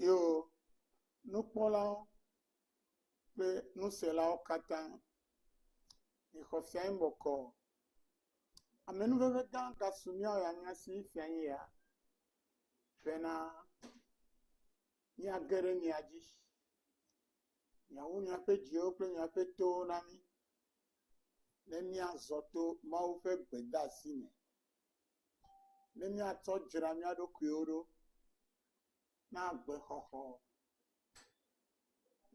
Yo nukpɔlawo kple nuselawo katã, mixɔ sia nu bɔkɔɔ, amenuvevetɔ ka su mía ya mía si fia nye ya bena míage ɖe mia dzi. Miawu miaƒe dziwo kple miaƒe towo na mí, ne míazɔ to Mawu ƒe gbedeasi me, ne míatsɔ dzra mía ɖokuiwo ɖo na agbexɔxɔ,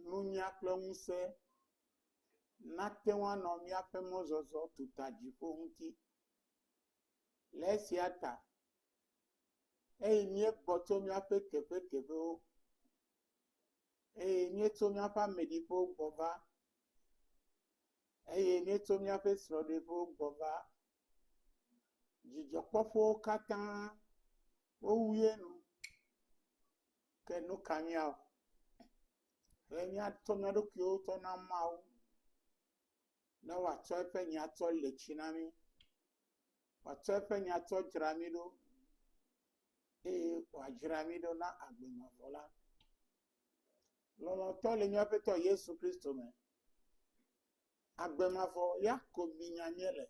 nunya kple ŋusẽ nate ŋu anɔ míaƒe mɔzɔzɔ tuta dziƒo ŋuti. Le esia ta, eye míegbɔ tso míaƒe teƒeteƒewo eye míeto míaƒe ameɖiƒewo gbɔ va, eye míeto míaƒe srɔ̃ɖeƒewo gbɔ va. Dzidzɔkpɔƒewo katã wowue nu. Ke nu ka míawɔ? Ɖe míatsɔ mía ɖokuiwo tsɔ na Mawu ne wòatsɔ eƒe nya atsɔ le tsi na mí wòatsɔ eƒe nya tsɔ dzra mí ɖo, eye wòadzra mí ɖo na agbe mavɔ la. Lɔlɔ̃tɔ le míaƒe Aƒetɔ Yesu Kristo me. Agbe mavɔ ya ko minya míele,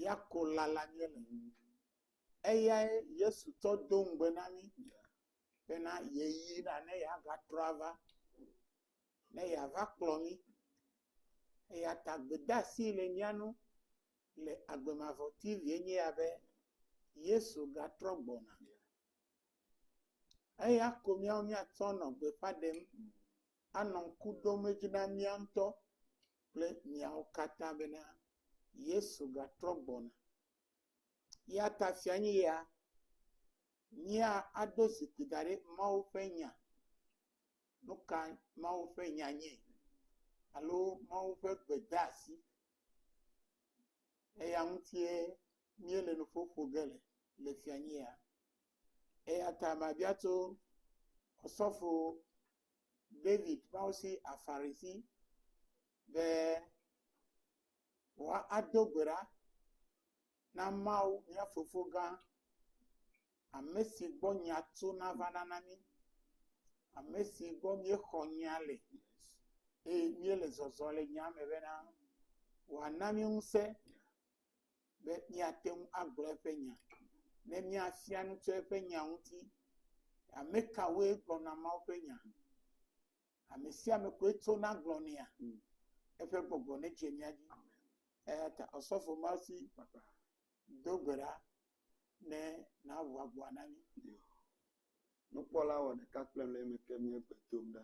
ya ko lala míele. Eyae Yesu tsɔ do ŋugbe na mí bena yeyina ne yeagatrɔ ava, ne yeava kplɔ mí. Eya ta gbedeasi le mía ŋu le agbemavɔti lie nye ya be Yesu gatrɔ gbɔna. Eya ko míawo míatsɔ nɔ gbeƒã ɖem, anɔ ŋku ɖom edzi na mía ŋutɔ kple miawo katã bena Yesu gatrɔ gbɔna. Eya ta fia nye ya, míaɖo zikpui da ɖe Mawu ƒe nya. Nu ka Mawu ƒe nya nye alo Mawu ƒe gbedeasi Eya ŋutie míele nuƒo ƒo ge le le fianyia. Eya ta mabia tso Osɔfo David Paosi Afari si be wòado gbe ɖa. Na Mawu, mía Fofo gã, ame si gbɔ nya tsona va nana mí, ame si gbɔ míexɔ nya le, eye míele zɔzɔm le nyaa me bena, wòana mí ŋusẽ be míate ŋu agblɔ eƒe nya, ne míafia nu tso eƒe nya ŋuti. Ame kawoe gblɔna Mawu ƒe nya? Amesiame koe tsona gblɔ nɛa? Eƒe gbɔgbɔ nedze mía dzi. Eyata Osɔfo Marcy do gbe ɖa ne nàʋu agboa na mí. Nukpɔla wɔ ɖeka kple le eme ke míe gbe dom ɖa.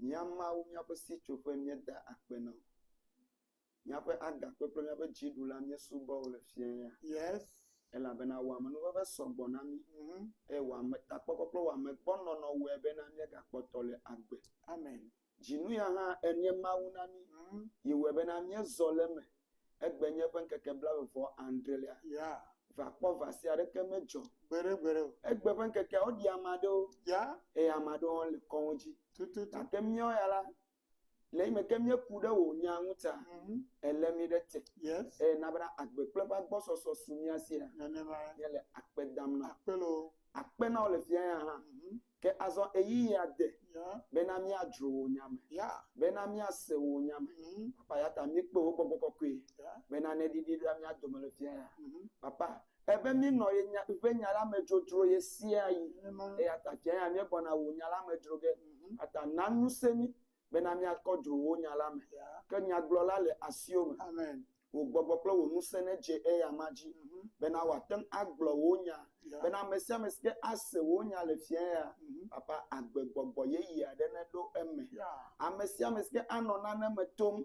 Mía Mawu, míaƒe sitsoƒe, míeda akpe na wò. Míaƒe agakpe kple míaƒe dziɖula míesubɔ wo le fiẽ ya. Yes. Elabena wò amenuveve sɔ gbɔ na mí. Mhm. Eye wò ametakpɔkpɔ kple wò amegbɔnɔnɔ wɔe bena míegakpɔtɔ le agbe. Amen. Dzinuya hã ènye Mawu na mí. Mhm. Yi wɔe bena míezɔ le eme. Egbenye ƒe ŋkeke blaeve vɔ adrẽlia. Ya. Va kpɔ va se aɖeke medzɔ. Gbeɖe gbeɖe o. Egbe ƒe ŋkekeawo ɖi ame aɖewo. Ya. Eye ame aɖewo hã le kɔwo dzi. Tututu. Gake míawo ya la, Le yi me ke míeku ɖe wò nya ŋu ta, èlé mí ɖe te, eye na bena agbe kple eƒe agbɔsɔsɔ su mía si la, míele akpe dam na wò. Akpe na wò le fiaɣia hã. Ke azɔ ɣeyiɣia de bena míadzro wò nya me, bena míase wò nya me. Papa, eya ta míekpe wò gbɔgbɔ kɔkɔe bena neɖiɖi ɖa mía dome le fiaɣia. Papa, Ebe míenɔ ye nya, ƒe nya la me drodro ɣe sia ɣi. Eya ta tsɛ hã míegbɔna wò nya la me dro ge. Eya ta na ŋusẽ mí bena míakɔ dro wò nya la me. Ke nyagblɔla le asiwò me. Wò gbɔgbɔ kple wò ŋusẽ nedze eya ma dzi bena wòate ŋu agblɔ wò nya. Bena ame sia ame si ke ase wò nya le fiẽ ya, Papa, agbegbɔgbɔ yeye aɖe neɖo eme. Ame sia ame si ke anɔ nane me tom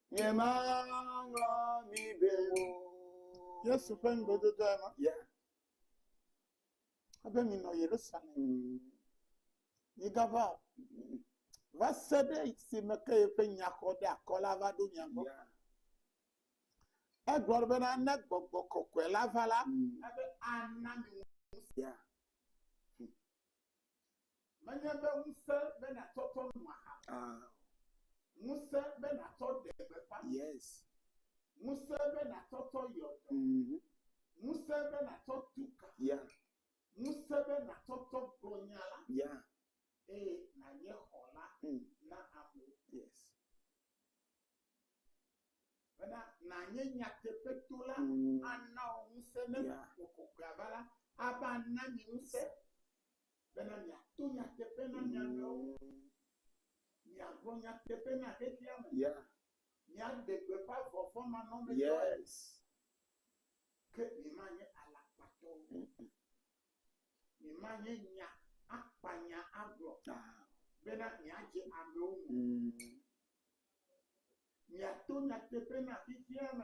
Nyemaŋlɔ mi be o. Yesu ƒe ŋugbedodoa ma. Ya. Ebe minɔ Yerusalem. Migava va se ɖe esime ke yeƒe nyaxɔɖeakɔ la va ɖo mia gbɔ. Egblɔ bena ne gbɔgbɔ kɔkɔe la va la, mm. ebe ana mi ŋusẽ. Menye be ŋusẽ be nàtsɔ tsɔ nu aha o. Ah. Ŋusẽ be nàtsɔ ɖe gbeƒã nu. Yes. Ŋusẽ be nàtsɔ tsɔ yɔ dɔ. Mm -hmm. Ŋusẽ be nàtsɔ tu ka. Yeah. Ŋusẽ be nàtsɔ tsɔ gblɔ nya la. Yeah. Eye nànye xɔla mm. na amewo. Yes. Bena nànye nyateƒetola mm. ana wò ŋusẽ ne yeah. Gbɔgbɔ Kɔkɔea va la ava na mi ŋusẽ. bena miato nyateƒe na mia nɔewo, miagblɔ nyateƒe na xexeame, miaɖe gbeƒã vɔvɔ̃manɔmetɔe, ke miemanye alakpatɔwo o, miemanye nya akpanya agblɔ bena miadze amewo ŋu o. Miato nyateƒe na xexeame.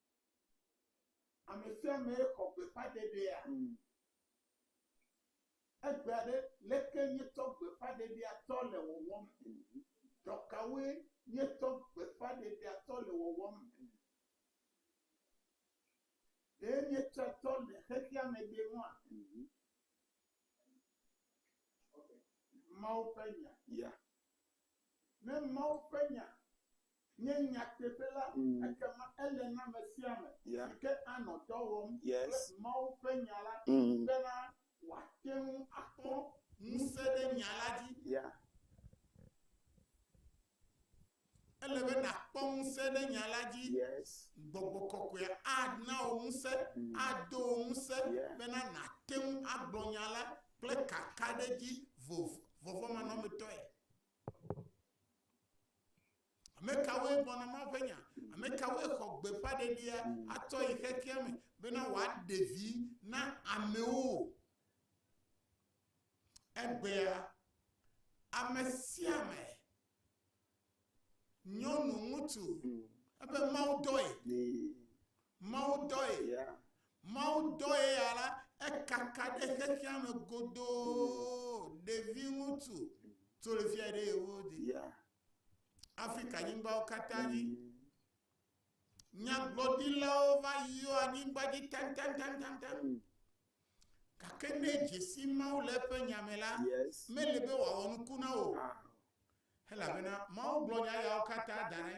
Ame sia amee xɔ gbeƒãɖeɖea? Egbea ɖe, leke míetsɔ gbeƒãɖeɖea tsɔ le wɔwɔm? Dɔ kawoe míetsɔ gbeƒãɖeɖea tsɔ le wɔwɔm? Ɖe míetsɔe tsɔ le xexeame ɖee ŋua? Mawu ƒe Nya. Ne Mawu ƒe Nya nye nyateƒe la, ekema ele na ame sia ame si ke anɔ dɔ wɔm kple Mawu ƒe Nya la bena wòate ŋu akpɔ ŋusẽ ɖe Nya la dzi. Ele be nàkpɔ ŋusẽ ɖe Nya la dzi. Gbɔgbɔ kɔkɔea ana wò ŋusẽ, ado wò ŋusẽ bena nàte ŋu agblɔ Nya la kple kakaɖedzi vɔvɔ̃manɔmetɔe. Ame kawoe gbɔ na Mawu ƒe nya? Ame kawoe xɔ gbeƒãɖeɖia atsɔ yi xexea me bena wòaɖe vi na amewo? Egbea, ame sia ame, nyɔnu, ŋutsu, ebe Mawu dɔe Mawu dɔe. Mawu dɔe ya la, ekaka ɖe xexea me godoo. Ɖevi ŋutsu tso le fia ɖe yewo di. Afrika nyigbawo katã dzi. Nyagblɔɖilawo va yɔ anyigba dzi tantantantantan. Gake ne dzesi Mawu le eƒe nya me la, mele be wòawɔ nuku na wò. Elabena Mawu gblɔ nya yawo katã da ɖi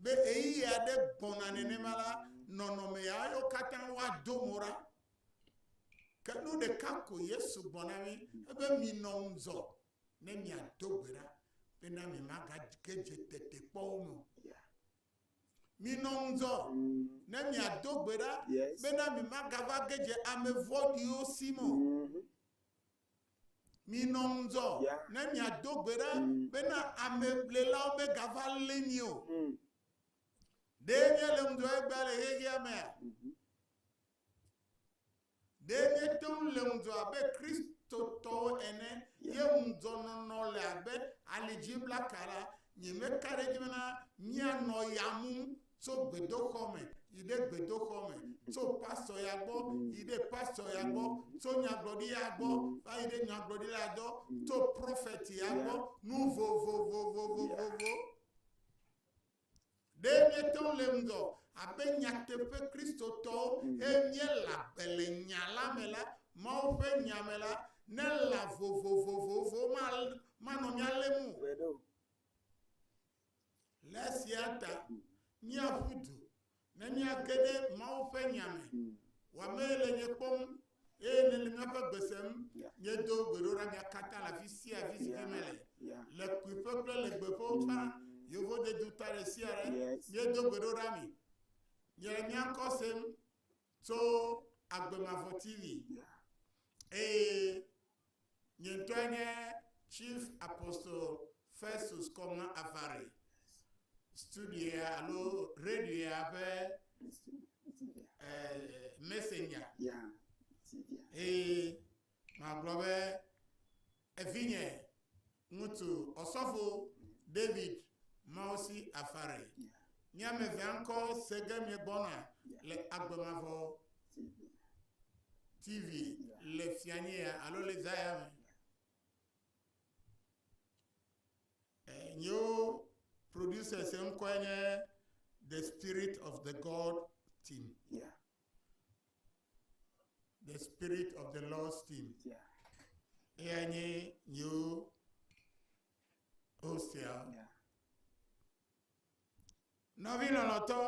be ɣeyiɣi aɖe gbɔna nenema la, nɔnɔme yawo katã woado mo ɖa. Ke nu ɖeka ko Yesu gblɔ na mí ebe, Minɔ ŋudzɔ ne miado gbe ɖa bena miemagage dze tetekpɔwo me o. Minɔ ŋudzɔ ne miado gbe ɖa bena miemagava ge dze ame vɔ̃ɖiwo si me o. Minɔ ŋudzɔ ne miado gbe ɖa bena amelélawo megava lé mi o. Ɖe míalé ŋudzɔ egbea le xexea mea? Ɖe míete ŋu lé ŋudzɔ abe Kristotɔwo ene ye ŋudzɔnɔnɔ le abe alidziblaka la, nyemeka ɖe edzi bena míanɔ ya mum tso gbedoxɔ me yi ɖe gbedoxɔ me, tso pastɔ ya gbɔ yi ɖe pastɔ ya gbɔ, tso nyagblɔɖi ya gbɔ va yi ɖe nyagblɔɖi la gbɔ, tso prɔfɛt ya gbɔ, nu vovovovovovovo. Ɖe míete ŋu le ŋgɔ abe nyateƒe Kristotɔwo he míela be le nya la me la, Mawu ƒe nya me la, ne lã vovovovovo manɔ mía lém o. Le esia ta, míaƒu du ne míage ɖe Mawu ƒe nya me, wɔamee le nye kpɔm, eye nèle míaƒe gbe sem. Míedo gbeɖoɖa mía katã le afi sia afi si ke mele, le kpuiƒe kple le gbeƒewo tsã, yevodedu ta ɖe sia ɖe. Míedo gbeɖoɖa mi. Miele mía ŋkɔ sem. tso agbe mavɔ TV eye nye ŋutɔe nye Chief Apostle Festus Kɔma Avare, studioa alo radioa ƒe eh, messenger eye magblɔ be Evinye ŋutsu Ɔsɔfo David Mawusi Afare, mi ame evea ŋkɔ se ge miegbɔna le agbe mavɔ TV le fianyea alo le zaya me. Eh, nyewo producers ŋkɔe nye The Spirit of the God Team. the spirit of the Lord's team. Yeah. Eya nye yewo hostia. Yeah. Nɔvi lɔlɔtɔ,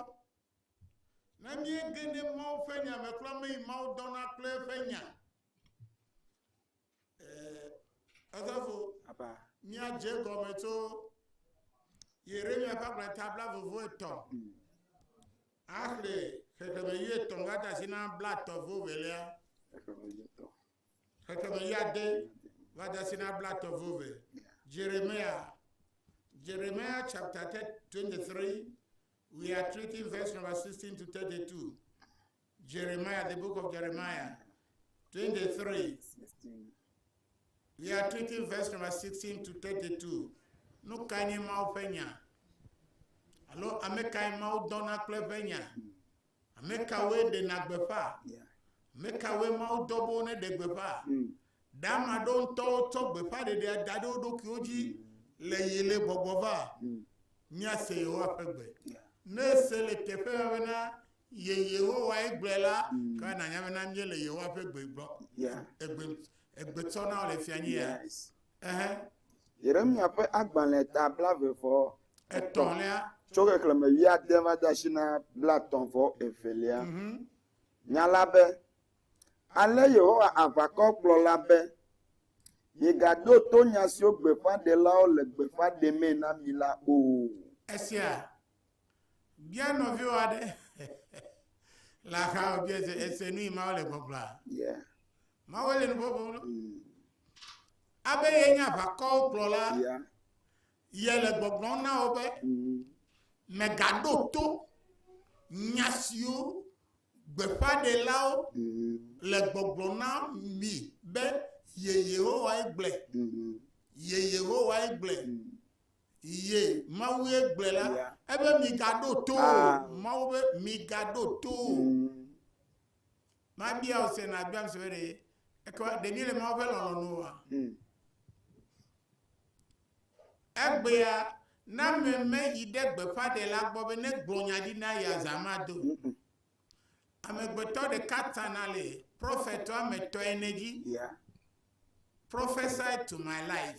ne míege ɖe Mawu ƒe nya me kura me yi Mawu dɔna kple eƒe nya. Edɔfo, míadze egɔme tso Yeremia ƒe agbalẽ ta bla vovo etɔ̃ axle xexeme yi etɔ̃ va de asi na bla etɔ̃ vo velia. Xexeme yi ade va de asi na bla etɔ̃ vo ve. Jeremia, Jeremia chapter 23, we are treating verse number 16 to 32. Jeremiah, the book of Jeremiah 23. We are treating verse number 16 to 32. Nu kae nye Mawu ƒe nya? Alo ame kae Mawu dɔna kple ƒe nya? Ame kawoe ɖena gbeƒã? Ame kawoe Mawu dɔ bo neɖe gbeƒã? Hmm. Ɖe ame aɖewo ŋutɔwo tsɔ gbeƒãɖeɖea da ɖe wo ɖokuiwo dzi le ɣi le gbɔgbɔ va? Míase Yehowa ƒe gbe. Ne èse le teƒea bena ye Yehowae gblɔe la, ekema nànya bena míele Yehowa ƒe gbe gbɔ, egbe, egbe tsɔ na wò le fia nye ya. Ɛhɛ. Yeremya ƒe agbalẽ ta blaeve vɔ etɔ̃ tso xexlẽme wuiade va de asi na blatɔ̃ vɔ evelia. Nya la be, Ale Yehowa aʋakɔ gblɔ la be, Miegaɖo to nya siwo gbeƒãɖelawo le gbeƒã ɖemee na mi la o. Esia bia nɔviwò aɖe le axa wòbia se, èse nu yi Mawu le gbɔgblɔa? Yeah. Mawu le nu ƒoƒom ɖo. Mm. Abe ye nye aʋakɔwo kplɔla, Yeah. Yele gbɔgblɔm na wò be, Mègaɖo to nya siwo gbeƒãɖelawo le gbɔgblɔm na mi be, Ye Yehowae gblɔe, ye Yehowae gblɔe, ye Mawue gblɔe la, ebe migaɖo to o. Mawu be, Migaɖo to o. Mabia wò se nàbiam se be ɖe ekema ɖe míele Mawu ƒe lɔlɔ̃ nu oa? Egbea, Naaman meyi ɖe gbeƒãɖela gbɔ be negblɔ nya ɖi na ye azã mado o. Amegbetɔ ɖeka tana le prophet woame etɔ̃ ene dzi. Prophesy to my life.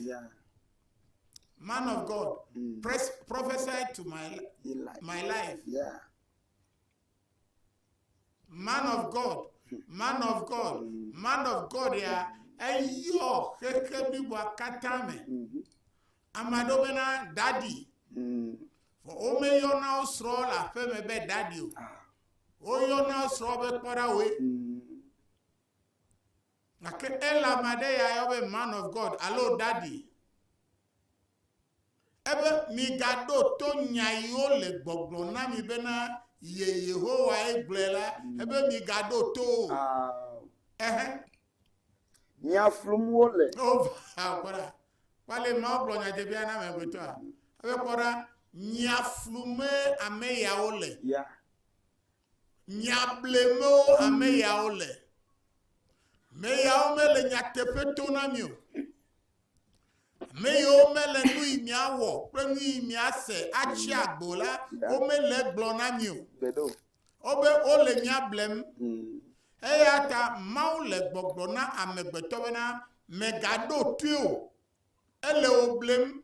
Man of God, mm. prophesy to my, my life. man of god man of god man of god ya eyɔ xexe bliboa katã me ame aɖewo bena dadi vɔ womeyɔna wo srɔ̃ le aƒe me be dadi o woyɔna wo srɔ̃ be kpɔɖawoe Gake Elam aɖe ya yɔ be Man of God alo Ɖaɖi. Ebe, Migaɖo to nya yi wole gbɔgblɔm na mi bena ye Yehowae gblɔe la, ebe migaɖo to wo o. Ɛhɛ. Nya flum wole. O, vaa, kpɔ ɖa. Kpɔ ale Mawu gblɔ nya dze ƒia na amegbetɔa. Ebe, kpɔ ɖa, nya flumee ame yawo le. Ya. Nya blemewo ame yawo le. Ame yawo mele nyateƒe to na mi o. Ame yiwo mele nu yi miawɔ kple nu yi miase atsi agbo la, womele gblɔ na mi o. Wobe wole mia blem. Eya ta Mawu le gbɔgblɔ na amegbetɔ bena, mègaɖo toe o. Ele wò blem.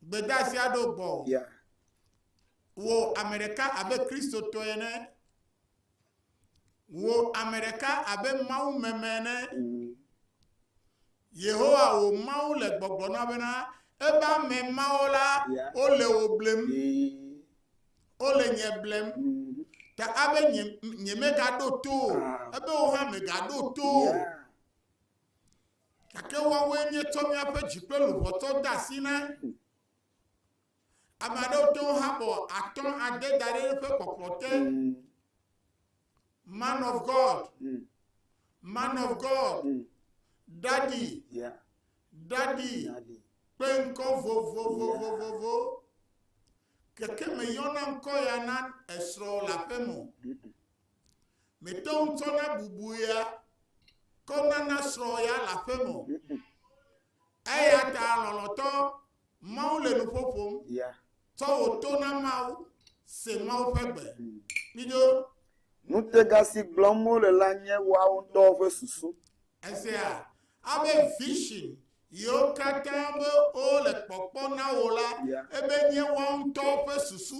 Gbedasia ɖo gbɔ o. Yeah. Wò ame ɖeka abe Kristotɔ ene. Wò ame ɖeka abe Mawu meme ene. Mm. Yehowa wò Mawu le gbɔgblɔ na bena ebe ame mawo la yeah. wole wò blem. Mm. Wole nye blem. Mm. Ta abe nye, nye megaɖo to o. Ah. Ebe wò hã megaɖo to o. Yeah. Gake woawoe míetsɔ míaƒe dzi kple luʋɔtɔ de asi na. Ame aɖewo te ŋu habɔ atɔ ade da ɖe eƒe kpɔkplɔ te. Man of God, man of God, daddy, daddy, kpe ŋkɔ vovovovovovo. Gake meyɔna ŋkɔ ya na esrɔ̃ le aƒeme o. Mete ŋu tsɔna bubu ya kɔ nana srɔ̃ ya le aƒe me o. Eya ta lɔlɔ̃tɔ, Mawu le nuƒo ƒom. Tsɔ wò to na Mawu, se Mawu ƒe gbe. Kpido. Ŋutega si gblɔm wole la nye woawo ŋutɔwo ƒe susu. Èsea? Abe vision yiwo katã be wole kpɔkpɔ na wò la, ebe nye woawo ŋutɔwo ƒe susu.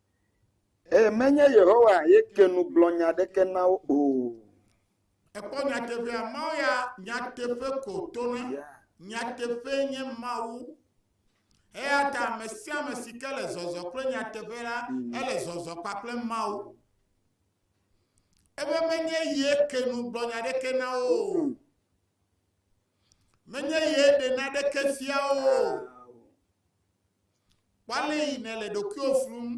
Ẽ, menye Yehowa ye ke nu gblɔ nya aɖeke na wo o. Èkpɔ nyateƒea? Mawu ya nyateƒe ko tona. Nyateƒee nye Mawu. Eya ta ame sia ame si ke le zɔzɔ kple nyateƒe la, mm. ele zɔzɔ kpakple Mawu. Ebe menye ye ke nu gblɔ nya aɖeke na wo o. Mm. Menye ye ɖe na ɖeke fia wo o. Kpɔ ale yi nèle ɖokuiwò flum.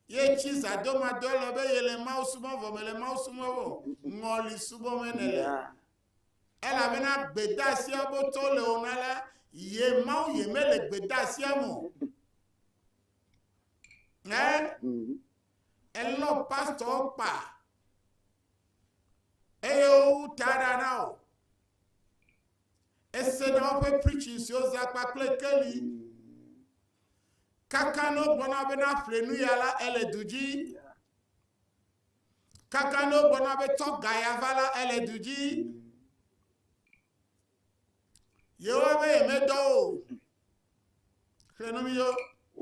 Ye tsi zãdomadɔ ele be yele Mawu subɔ vɔ mele Mawu subɔ vɔ, ŋɔli subɔ me nèle. Elabena gbedasia botɔ le wò na la, ye Mawu ye mele gbedasia me o. Ɛ, elɔ pastɔwo kpa, eye wowu ta ɖa na wò. Ese na woƒe preaching siwo zã kpakple keli. Kaka no gbɔna be na ƒle nu ya la ele du dzi. Kaka no gbɔna be tɔ ga ya va la ele du dzi. Yehowa be yemedɔ o.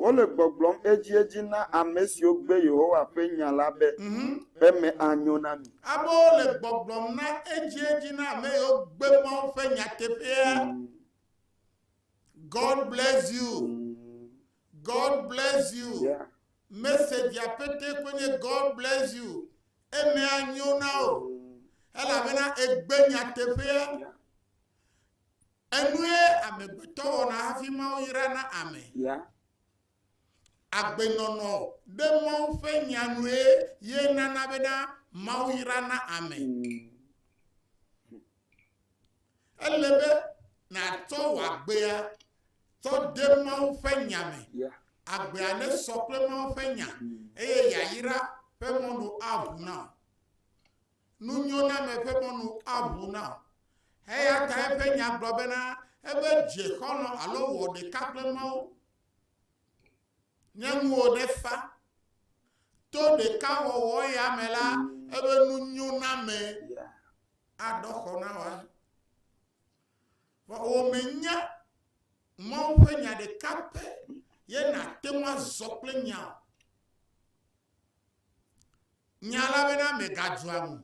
Wole gbɔgblɔm edziedzi na ame siwo gbe Yehowa ƒe nya la be, mhm. Eme anyo na mi. Amewo le gbɔgblɔm na edziedzi na ame yiwo gbe Mawu ƒe nyateƒea. Mhm. God bless you. Mhm. God bless you. Yeah. Message apete koe nye God bless you. Eme anyo na wo. Elabena egbe nyateƒea. Yeah. Enue amegbetɔ wɔna hafi Mawu yra na ame. Ya. Agbenɔnɔ ɖe Mawu ƒe Nya nue ye nana bena Mawu yra na ame. Ele be nàtsɔ wò agbea tsɔ de Mawu ƒe Nya me. Ya. Agbea nesɔ kple Mawu ƒe Nya eye yayra ƒe mɔnu aʋu na wò. Nunyoname ƒe mɔnu aʋu na wò. Eya ta eƒe nya gblɔ bena, Ebe dze xɔlɔ̃ alo wɔ ɖeka kple Mawu. Nye ŋuwò nefa. To ɖekawɔwɔ ya me la, ebe nunyoname aɖɔ xɔ na wò ahe. Vɔ wòmenye Mawu ƒe nya ɖeka pɛ ye nàte ŋu azɔ kple nya o. Nya la bena megadzua ŋu.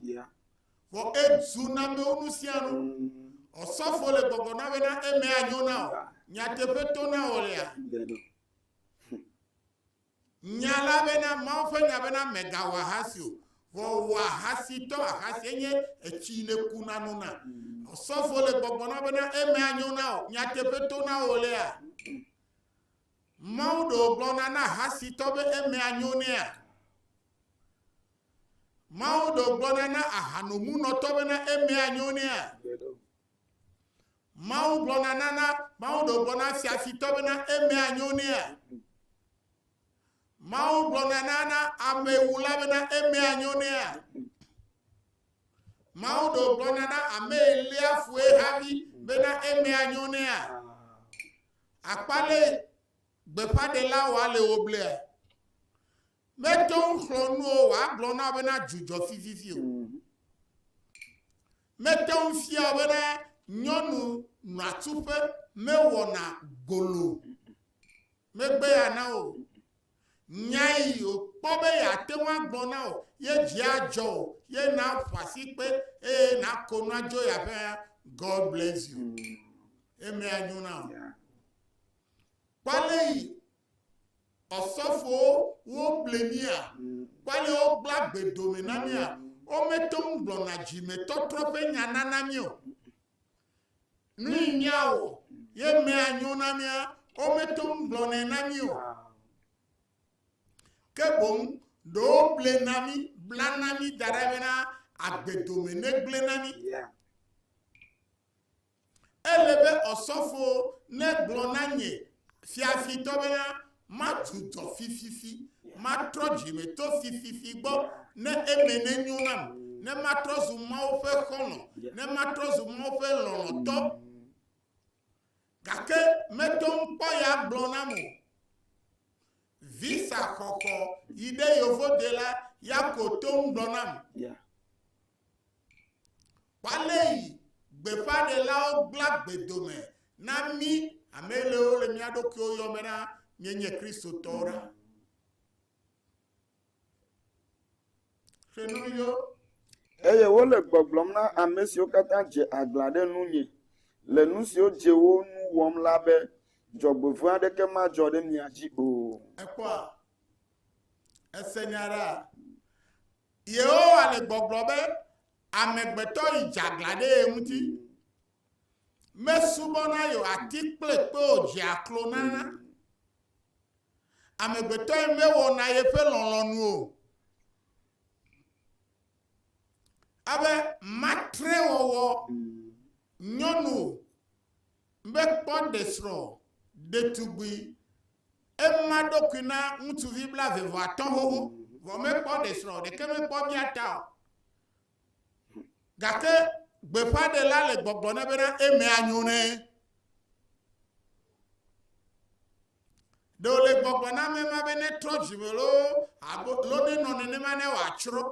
Vɔ edzu namewo nu sia nu. Ɔsɔfo le gbɔgbɔ na bena eme anyo na wò. Nyateƒe to na wò lea. Nya la bena Mawu ƒe nya bena megawɔ ahasi o. Vɔ wò ahasitɔ ahasi enye etsi neku na nu na. Ɔsɔfo le gbɔgbɔ na bena eme anyo na wò. Nyateƒe to na wò lea. Mawu ɖe wògblɔna na ahasitɔ be eme anyo nɛa? Mawu ɖe wògblɔna na ahanomunɔtɔ bena eme anyo nɛa? Mawu gblɔna na na Mawu ɖe wògblɔna na fiafitɔ bena eme anyo nɛa? Mawu gblɔna na na amewula bena eme anyo nɛa? Mawu ɖe wògblɔna na ame elia fue havi bena eme anyo nɛa? Akpa ɖe gbeƒãɖela wòale wò blea, mete ŋu xlɔ̃ nu o wòagblɔ na wò bena dzu dzɔ vivivi o. Mete ŋu fia wò bena nyɔnu nɔa tsuƒe mewɔna gbolo megbeya na wò. Nya yi wòkpɔ be yeate ŋu agblɔ na wò, ye dzi adzɔ wò, ye nàƒo asikpe, eye nàko nu adzo yi aƒea. God bless you. Eme anyo na wò. Kpɔ ale yi ɔsɔfowo woble mía, kpɔ ale wogblẽ agbe dome na mía. Womete ŋu gblɔna dzimetɔtrɔ ƒe nya nana mí o. Nui míawɔ ye mea nyo na mía? Wometo ŋu gblɔnɛ na mí o. Ke boŋ ɖe woble na mí, bla na mí da ɖe bena agbe dome negblẽ na mí. Ele be ɔsɔfo negblɔ na nye fiafitɔ bena Matu dɔ fififi, matrɔ dzime to fififi gbɔ, ne eme nenyo nam, ne matrɔ zu Mawu ƒe xɔlɔ̃, ne matrɔ zu Mawu ƒe lɔlɔ̃tɔ. Gake meto ŋu kpɔ ya gblɔ nam o. Visa xɔxɔ yi ɖe Yovode la ya ko to ŋu gblɔ nam. Kpalei gbeƒãɖelawo gbla gbedome na mí amelewo le mía ɖokuiwo yɔme na mienye Kristotɔwo ɖa. Xenuyo. Eye wole gbɔgblɔm na ame siwo katã dze aglã ɖe nunye le nu siwo dze wo nu wɔm la be, Dzɔgbevɔ̃e aɖeke madzɔ ɖe mia dzi o. Ekpɔa? Ese nya ɖa? Yehowa le gbɔgblɔ be amegbetɔ yi dzeaglã ɖe ye ŋuti. Mesubɔna yo ati kple kpe o dzea klo na. Amegbetɔe mewɔna yeƒe lɔlɔ̃nu o. Abe matrewɔwɔ nyɔnu Mekpɔ ɖesrɔ̃ ɖetugbui. Ema ɖokui na ŋutsuvi blaeve vɔ atɔ̃ xoxo, vɔ mekpɔ ɖesrɔ̃ ɖeke mekpɔ bia ta o. Gake gbeƒãɖela le gbɔgblɔ nɛ bena eme anyo nɛ. Ɖe wòle gbɔgblɔ na ame ma be netrɔ dzime loo alo nenɔ nenema ne wòatsrɔ̃.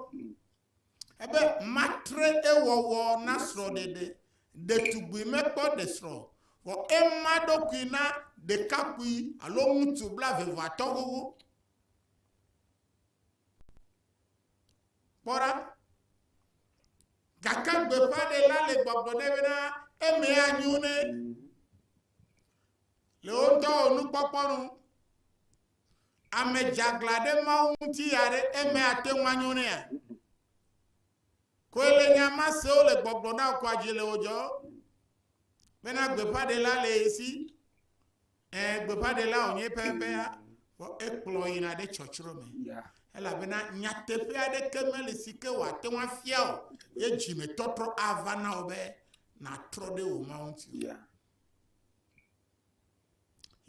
Ebe matre ewɔwɔ na srɔ̃ɖeɖe. Ɖetugbui mekpɔ ɖe srɔ̃, vɔ ema ɖokui na ɖekakpui alo ŋutsu blaeveveatɔ̃ xoxo. Kpɔ ɖa. Gake gbeƒãɖela le gbɔgblɔ nɛ bena eme anyo nɛ le wo dɔwɔnukpɔkpɔ nu. Ame dzeaglã ɖe Mawu ŋuti ya ɖe eme ate ŋu anyo nɛa? Koe le nya ma sewo le gbɔgblɔ na wò kɔa dzi le wò dzɔ bena gbeƒãɖela le ye si. Ẽ, gbeƒãɖela wònye pɛpɛa, vɔ ekplɔ yina ɖe tsɔtsrɔ̃ me. Elabena nyateƒe aɖeke meli si ke wòate ŋu afia o, ye dzimetɔtrɔ ava na wò be nàtrɔ ɖe wò Mawu ŋuti. Yeah.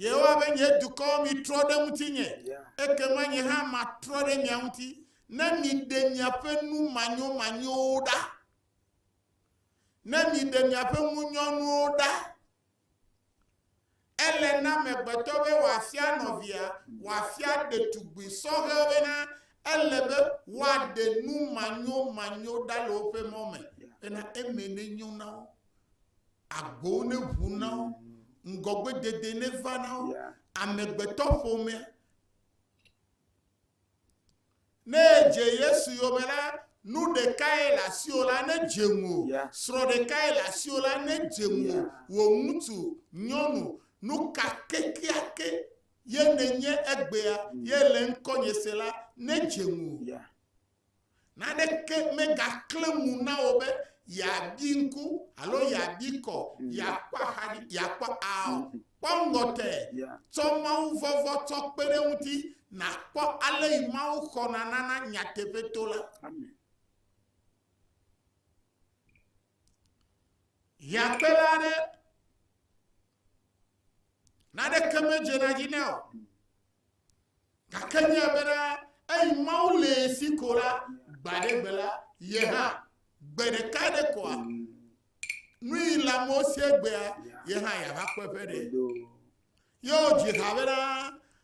Yehowa be, Nye dukɔ, mitrɔ ɖe ŋutinye, ekema nye hã matrɔ ɖe mia ŋuti, ne miɖe miaƒe nu manyomanyowo ɖa, ne miɖe miaƒe ŋunyɔnuwo ɖa. Ele na amegbetɔ be wòafia nɔvia, wòafia ɖetugbui sɔhɛ be na ele be woaɖe nu manyomanyo ɖa le woƒe mɔ me, bena eme nenyo na wo. Agbowo neʋu na wo, ŋgɔgbedede neva na wo, amegbetɔƒomea. Ne edze Yesu yome la, nu ɖekae le asiwò la nedze ŋu, srɔ̃ ɖekae le asiwò la nedze ŋu, wò ŋutsu, nyɔnu, nu ka kekeake ye nenye egbea, ye le ŋkɔnye se la, nedze ŋu. Naneke megaklẽ ŋu na wò be yeabi ŋku alo yeabi kɔ, yeakpɔ axa dzi, yeakpɔ ao. Kpɔ ŋgɔ te. Tsɔ mawuvɔvɔ̃ tsɔ kpe ɖe eŋuti nàkpɔ ale yi Mawu xɔna nana nyateƒe to la. Hiãkpela aɖe Naneke medzena dzi na o. Gake nye bena eyi Mawu le si ko la, gba ɖe gbe la, ye hã gbe ɖeka ɖe koa nui la mo sie gbea, ye hã yava kpɔ eƒe ɖe. Yewo dzi ha bena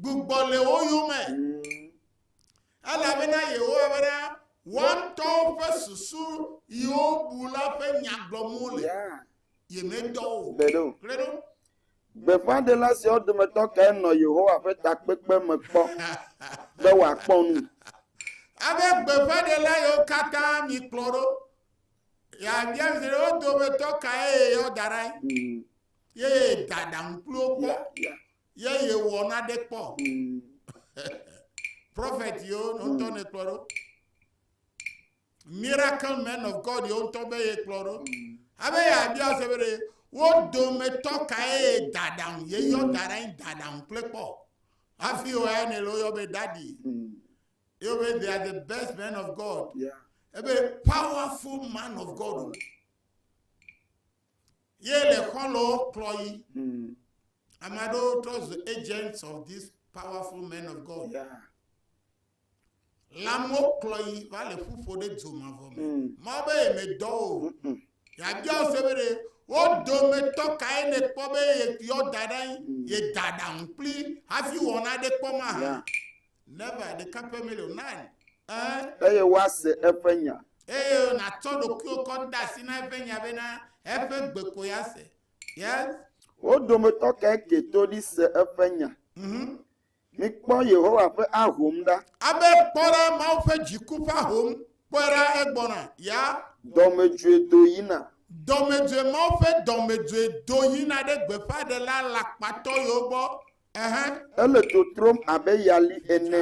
gbugbɔ le wo yome elabena yehowa bena woatɔwo ƒe susu yiwo bu la ƒe nya gblɔm wole yemedɔ o gbeɖo gbeɖo gbeƒãɖela siawo dometɔ kae nɔ yehowa ƒe takpekpe me kpɔ be wòakpɔ nu abe gbeƒãɖela yiwo katã mikplɔ ɖo yabia mi se ɖe wo dometɔ kae yeyɔ da ɖa mm. Ye da ɖaŋu kpli wo kpɔ. Ye yewɔ naɖe kpɔ. Prɔfɛt yewo ŋutɔ ne kplɔ ɖo. Miracle men of God yewo ŋutɔ be ye kplɔ ɖo. Abe yeabia se be ɖe wo dometɔ kae ye da ɖaŋu ye yɔ da ɖe anyi da ɖaŋu kple kpɔ. Hafi wo ya ne le woyɔ be dadi. Yewo be they are the best men of God. Yeah. Ebe powerful man of God. Ye le xɔlɔwo kplɔ yi. Hmm. Ame aɖewo trɔ zu agents of this powerful men of God. Lãmewo kplɔ yi va le ƒuƒo ɖe dzo mavɔ me. Hmm. Mawu be ye medɔ o. Hmm. Yabia se be ɖe wo dometɔ kae ne kpɔ be yɔ da ɖe ye da ɖaŋu kpli hafi wɔna ɖe kpɔ ma ha. Never, ɖeka pɛ mele o, none. Ɛ. Eye woase eƒe nya. Eye nàtsɔ ɖokuiwò kɔ de asi na eƒe nya bena eƒe gbe koe ase. Yes. Wo dometɔ kae ke to ɖi se eƒe nya? Mhm. Mikpɔ Yehowa ƒe ahom ɖa. Abe, kpɔ ɖa, Mawu ƒe dziku ƒe ahom, kpɔe ɖa, egbɔna. Ya. Dɔmedzoe do yina. Dɔmedzoe, Mawu ƒe dɔmedzoe do yina ɖe gbeƒãɖela alakpatɔ yewo gbɔ. Ele dzo trom abe yali ene.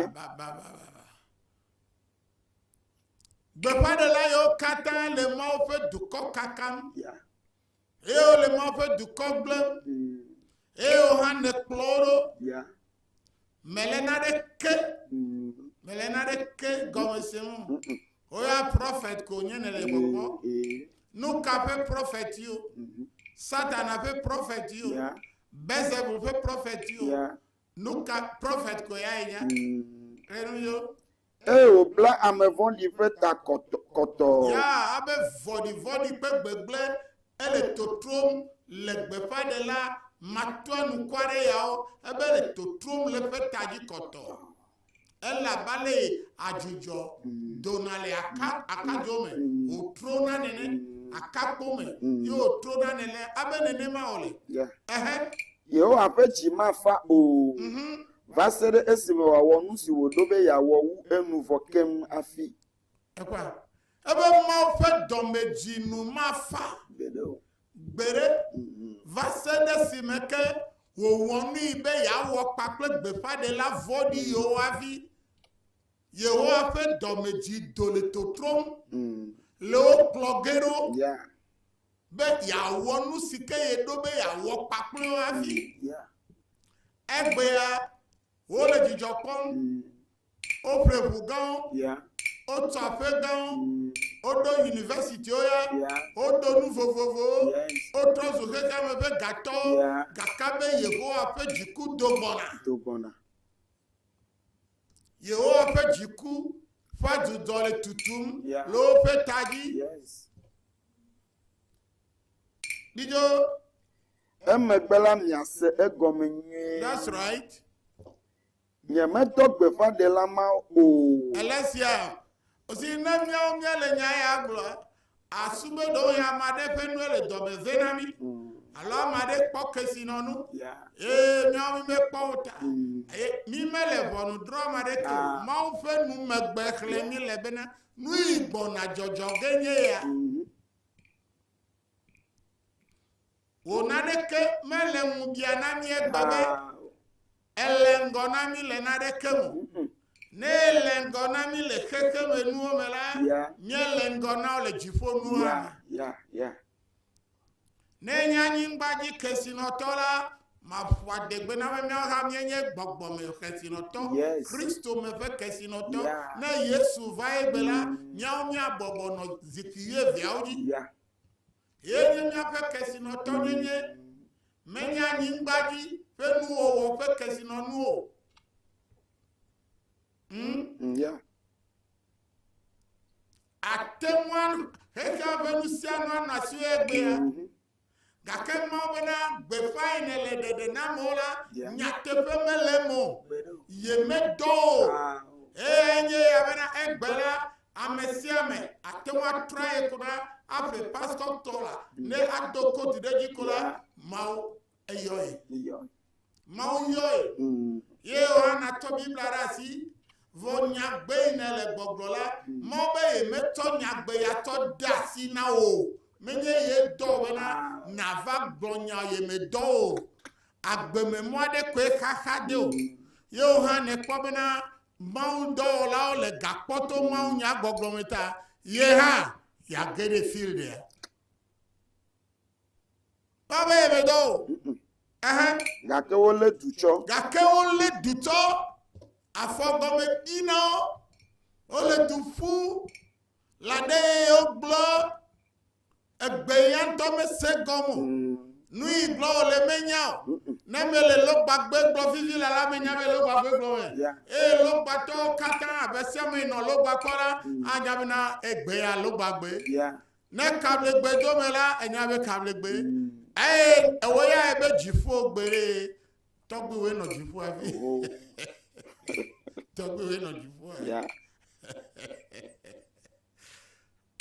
Gbeƒãɖela yawo katã le Mawu ƒe dukɔ kakam, eye wole Mawu ƒe dukɔ gblẽm, mm. eye wo hã nèkplɔ wo ɖo. Mele naɖeke, mm. mele naɖeke gɔme se mo. Woya prɔfɛt ko nye nele gbɔgbɔ. Mm, eh. Nuka ƒe prɔfɛt yiwo? Mm-hmm. Satana ƒe prɔfɛt yiwo? Belzebul ƒe prɔfetiwo. Ya. Nu ka prɔfet ko yae nye? Ʋe nu yo. Eye wòbla ame vɔ̃ɖi ƒe ta kɔtɔ kɔtɔ. Ya abe vɔ̃ɖivɔ̃ɖi ƒe gbegblẽ ele totrom le gbeƒãɖela matuanukwareyawo ebe le totrom le ƒe ta dzi kɔtɔ. elabale adzudzɔ dona le aka akadzo me wòtrona nene akakpo me ye wòtrona nene abe nenema wòle ehe yehowa ƒe dzi mafa o mhm. va se ɖe esime wòawɔ nu si wòɖo be yeawɔ wu enu vɔ keŋ hafi Ekpɔa? Ebe Mawu ƒe dɔmedzinu mafa gbeɖe mhm. va se ɖe esime ke wòwɔ nui be yeawɔ kpa kple gbeƒãɖela vɔ̃ɖi yiwo hafi Yehowa ƒe dɔmedzi do le totrom mhm. le wo kplɔ ge ɖo be yeawɔ nu si ke yeɖo be yeawɔ kpakple wo hafi. Egbea wole dzidzɔ kpɔm mm. Woƒle ʋu gãwo. Wotu aƒe gãwo. Woɖo universitiwo ya. Wodo nu vovovowo. Wotrɔ zu xexea me ƒe gatɔwo. Gake be Yehowa ƒe dziku do gbɔna. Yehowa ƒe dziku ƒe adudɔ le tutum le woƒe ta dzi. Ɖidzo. Emegbe la miase egɔme nyuie. That's right. Nyemedɔ gbeƒãɖela ma o. Alesia, Zi ne míawo míele nya ya gblɔ, asu be ɖewohĩ ame aɖe ƒe nue le dɔ me vɛ na mí, alo ame aɖe kpɔ kesinɔnu, eye míawo mímekpɔ o ta. Eye mímele ʋɔnudrɔ̃am aɖeke o. Mawu ƒe numegbexlẽ míele bena, Nui gbɔna dzɔdzɔ ge nye ya? Wò naneke mele ŋubia na mí egbe be ele ŋgɔ na mí le naneke me. Ne ele ŋgɔ na mí le xexe me nuwo me la, míele ŋgɔ na wo le dziƒo nuwo me. Ne nye anyigbadzi kesinɔtɔ la, Maƒo adegbe na be míawo hã míenye gbɔgbɔ me kesinɔtɔ, yes. Kristo me ƒe kesinɔtɔ. Yeah. Ne Yesu va egbe la, mm. míawo míabɔbɔ nɔ zikpui wuieveawo dzi. Yeah. Ye nye míaƒe kesinɔtɔ nyenye. Menye anyigba dzi ƒe nuwɔwɔ ƒe kesinɔnu o. Hmm? Yeah. Ate ŋu xexea ƒe nu sia nu anɔ asiwò egbea. Mm -hmm. Gake Mawu bena, Gbeƒãe nèle ɖeɖe nam o la, nyateƒe mele eme o. Yemedɔ wò o. Eye enye ya bena, egbe la, ame sia ame ate ŋu atra ye ko ɖa aƒle pastor tɔ la, ne ado koti ɖe edzi ko la, Mawu eyɔe. Mawu yɔe. Ye Yohana tsɔ Biblia ɖe asi. Vɔ nyagbe yi ne le gbɔgblɔ la, mɔ be ye metsɔ nyagbe ya tsɔ de asi na wò. Menye ye dɔ bena nava gblɔ nya ye me dɔ o. Agbe me mɔ aɖe koe xaxa de o. Ye hã nekpɔ bena Mawu dɔwɔlawo le gakpɔ to Mawu nya gbɔgblɔ me ta, ye hã yage ɖe field ya. Kpɔ be yemedɔ o. Gake wolé du tsɔ. Gake wolé du tsɔ. Afɔgɔme di na wo. Wole du ƒu. La ɖe ye wogblɔ. Egbe ya ŋutɔ mesẽ gɔme o. Mm. Nu yi gblɔ wòle menya o. Ne mele lɔgbagbe gblɔ vivi la la menya be lɔgbagbe gblɔ me. Eye lɔgbatɔwo katã abe siame nɔ lɔgbakpɔ la mm. anya bena egbe ya lɔgbagbe. Ne kablegbe do me la, enya be kablegbe. Mm. Eye ewo ya ebe dziƒo gbe ɖe tɔgbuiwoe nɔ dziƒo afi. Tɔgbuiwoe nɔ dziƒo afi.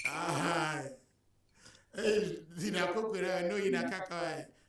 Aha. Eye zina koko ɖe no yina kaka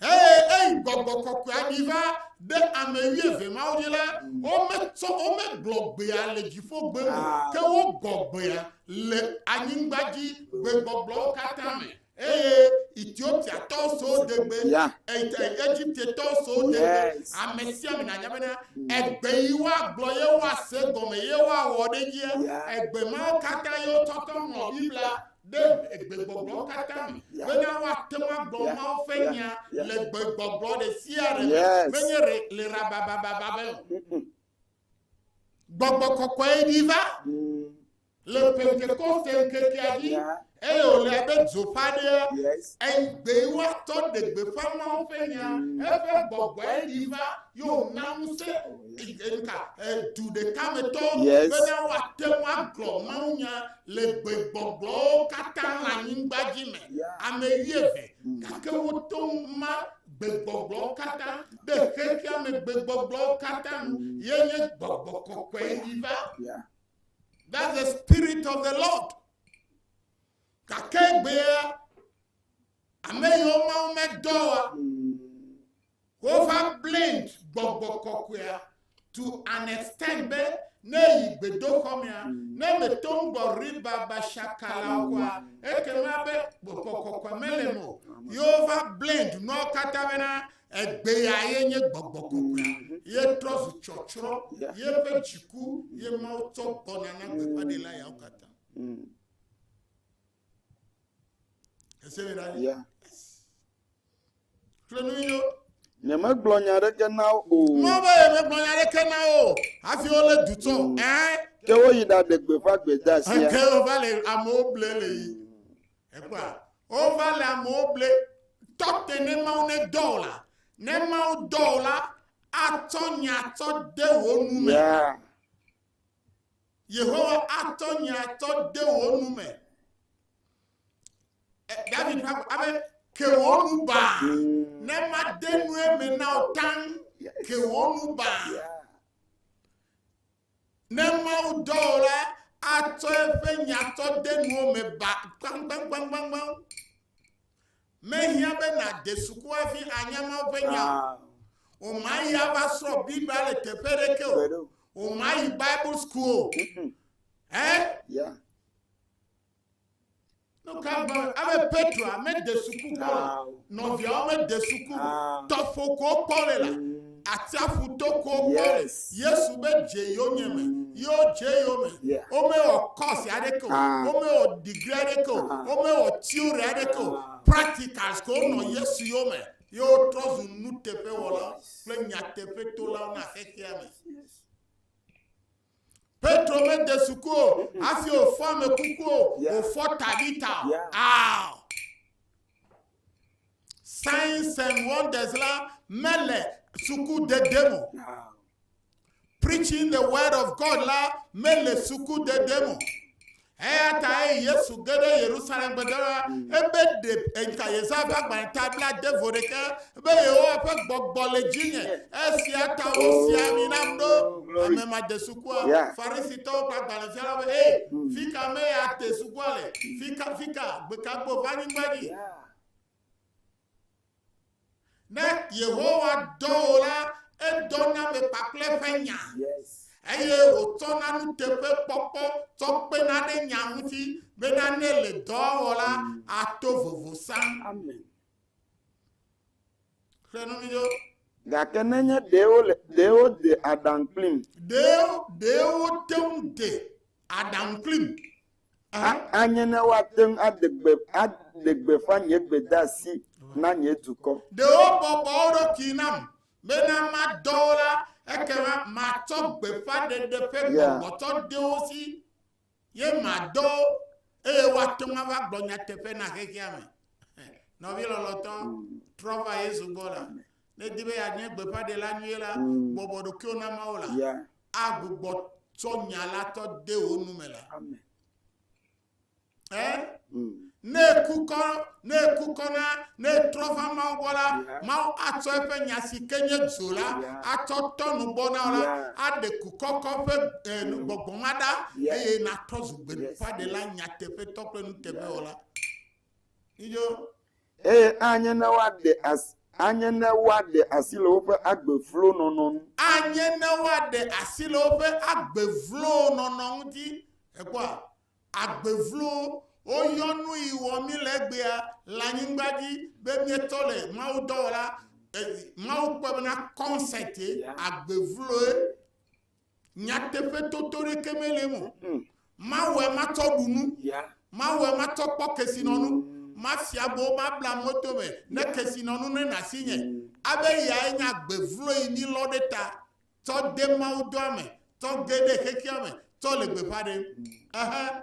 eye eyi gbɔgbɔ kɔkɔea ɖi va ɖe ame wuieve mawo dzi la, wometsɔ womegblɔ gbea le dziƒogbe o, ke wogbɔ gbea le anyigba dzi gbegbɔgblɔwo katã me. eye Etiopiatɔwo so degbe, yeah. Egiptetɔwo so degbe, yes. ame sia ame nanya bena egbe yi woagblɔ ye woase gɔme ye woawɔ ɖe edzia, yeah. egbe mawo katã ye wotɔtɔ ŋlɔ Biblia ɖe gbegbɔgblɔ katã me, bena woate ŋu agblɔ Mawu ƒe nya le gbegbɔgblɔ ɖe sia ɖe me, menye le rababababa me o. Gbɔgbɔ kɔkɔe ɖi va le Pentekoste ŋkekea dzi, eye wòle abe dzo ƒe aɖea, eyi gbee woatɔ ɖe gbeƒã Mawu ƒe nya, eƒe gbɔgbɔe ɖi va, ye wòna ŋusẽ du ɖeka me tɔwo bena woate ŋu agblɔ mawunya le gbegbɔgbɔwo katã le anyigba dzi me, ame wuieve, gake woto ŋu ma gbegbɔgbɔwo katã ɖe xexea me gbegbɔgbɔwo katã nu, ye nye gbɔgbɔ kɔkɔe yi va. That's the spirit of the Lord. Gake egbea, ame yiwo Mawu medɔ wa, Hova blamed gbɔgbɔ kɔkɔea to an extent be ne yi gbedoxɔ mea, ne mèto ŋu gbɔ riba bashakala o kɔa, ekema be gbɔgbɔ kɔkɔe mele eme o. Yehova blamed nuawo katã bena egbea ye nye gbɔgbɔ kɔkɔea. Ye trɔ zu tsɔtsrɔ̃, yeƒe dziku ye Mawu tsɔ gbɔna na gbeƒãɖela yawo katã. Ya. Xlẽ nu yo. Nyemegblɔ nya aɖeke na wo o. Mɔ be yemegblɔ nya aɖeke na wo o. Hafi wolé du tsɔ. Ɛɛ. Ke woyi ɖaɖe gbeƒã gbedasia. Ke wova le amewo ble le yi. Ekpɔa. Wova le amewo ble. Tɔ te ne Mawu ne dɔ o la. Ne Mawu dɔ o la, atsɔ nya tsɔ de wò nu me. Ya. Yehowa atɔ nye atɔ de wò nu me. David ƒe abe ke wò nu baa ne made nu eme na wò taŋ ke wò nu baa. Ne Mawu dɔ wò la, atɔ eƒe nyatɔ de nuwo me ba kpankpankpankpankpan. Mehiã be nàde suku hafi anya Mawu ƒe nya o. Wòmayi ava srɔ̃ Biblia le teƒe aɖeke o. Wòmayi Bible school o. Ɛ? Nu ka gblɔ ale Petroa mede suku kpɔ o? Nɔviawo mede suku o. Tɔƒo ko wokpɔ le la. Atsiaƒu to ko kpɔ Yesu be dze yonye me, ye wodze yo me. Womewɔ kɔs aɖeke o, ah. womewɔ digri aɖeke o, ah. womewɔ tiori aɖeke o. Ah. Practicals ko wonɔ Yesu yo me, ye wotrɔ zu nuteƒewɔlawo kple nyateƒetolawo na xexea me. Petro mede suku o hafi wòfɔ ame kuku o, wòfɔ Tabita o. Ao! Signs and wonders la mele suku dede mo. Preaching the word of God la mele suku dede mo. Eya ta eyi Yesu ge ɖe Yerusalem gbede la, ebe, Ɖe ŋka Yesaya ƒe agbalẽ ta bla de vo ɖeke, be, Yehowa ƒe gbɔgbɔ le dzinye, esia ta wosi ami nam ɖo amemadesukua, Farisitɔwo ƒe agbalẽfialawo be, Hɛ! Fika mee ate sukua le? Fika, fika, gbekagbo va anyigba dzi? Ne Yehowa dɔ wò la, edɔna ame kpakple ƒe nya, eye wòtsɔna nuteƒekpɔkpɔ tsɔ kpena ɖe nya ŋuti bena ne le dɔ wɔ la, ato vovo sã. Xlẽ nu mi ɖo. Gake nenye ɖee wole ɖee wode aɖaŋu kplim. Ɖee ɖee wote ŋu de aɖaŋu kplim. Anye ne woate ŋu aɖe gbe aɖe gbeƒã nye gbedeasi na nye dukɔ. Ɖe wobɔbɔ wo ɖokui nam bena madɔ wo la, ekema matsɔ gbeƒãɖeɖe ƒe gbɔgbɔ tsɔ de wo si, ye madɔ wo, eye woate ŋu ava gblɔ nyateƒe na xexea me. Nɔvi lɔlɔ̃tɔ, mm. trɔ va Yesu gbɔ la. Ne di be yeanye gbeƒãɖela nyui la, mm. bɔbɔ ɖokuiwò na Mawu la. agbugbɔ tsɔ nya la tɔ de wo nu me la. Amen. Eh? Mm. Ne kukɔ, ne kukɔ na, ne trɔ va Mawu gbɔ la, Mawu atsɔ eƒe nya si ke nye dzo la, atsɔ tɔ nu gbɔ na la, aɖe kukɔkɔ ƒe eh, gbɔgbɔ ma ɖa, eye natrɔ zu gbeɖuƒaɖela nyateƒetɔ kple nuteƒewɔla. Iyo. Eye anye ne woaɖe as, anye ne woaɖe asi le woƒe agbe vlo nɔnɔ nu. Anye ne woaɖe asi le woƒe agbe vlo nɔnɔ ŋuti. Èkpɔa? Agbe vlo, woyɔ nu yi wɔ mí le egbea, le anyigba dzi, be míetɔ le Mawu dɔwɔla, e, Mawu kpɔe bena kɔnsɛte, agbe vloe. Nyateƒe toto ɖeke mele eme o. Hmm. Mawɔe matsɔ ɖu nu. Yeah. Mawɔe matsɔ kpɔ kesinɔnu. Mm. Mafia bo mabla moto me ne kesinɔnu ne nasi nye. Mm. Abe yae nye agbe vlo yi mi lɔ ɖe ta tsɔ de mawudɔa me tsɔ ge ɖe xexea me tsɔ le gbeƒã ɖem. Mm. Ehe.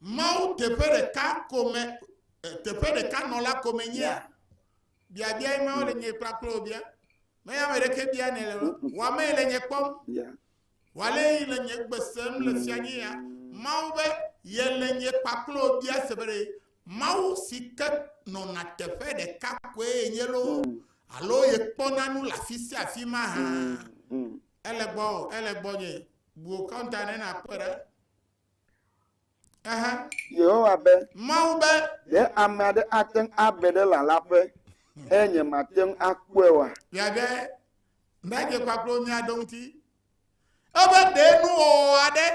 Mawu teƒe ɖeka kome teƒe ɖeka nɔla kome nyea? Biabia ye mawo le nye kplakple wò bia. Meya ame ɖeke bia ne le wɔame le nye kpɔm. Wale yi le nye gbe sem le fia nye ya. Mawu be ye le nye kpakple wò bia se be Mawu si ke nɔna teƒe ɖeka koe ye nye lo alo ye kpɔna nu le afi sia afi ma hã. Ele gbɔ, ele gbɔ nye. Bu wò kɔnta ne nàkpɔe ɖa. Aha. Yehowa be, Mawu be, Ɖe ame aɖe ate ŋu ave ɖe lalaƒe eye nyemate ŋu akpɔe oa? Miabe nadzekpakplo mia ɖo ŋuti. Ebe ɖe nuwɔwɔ aɖe,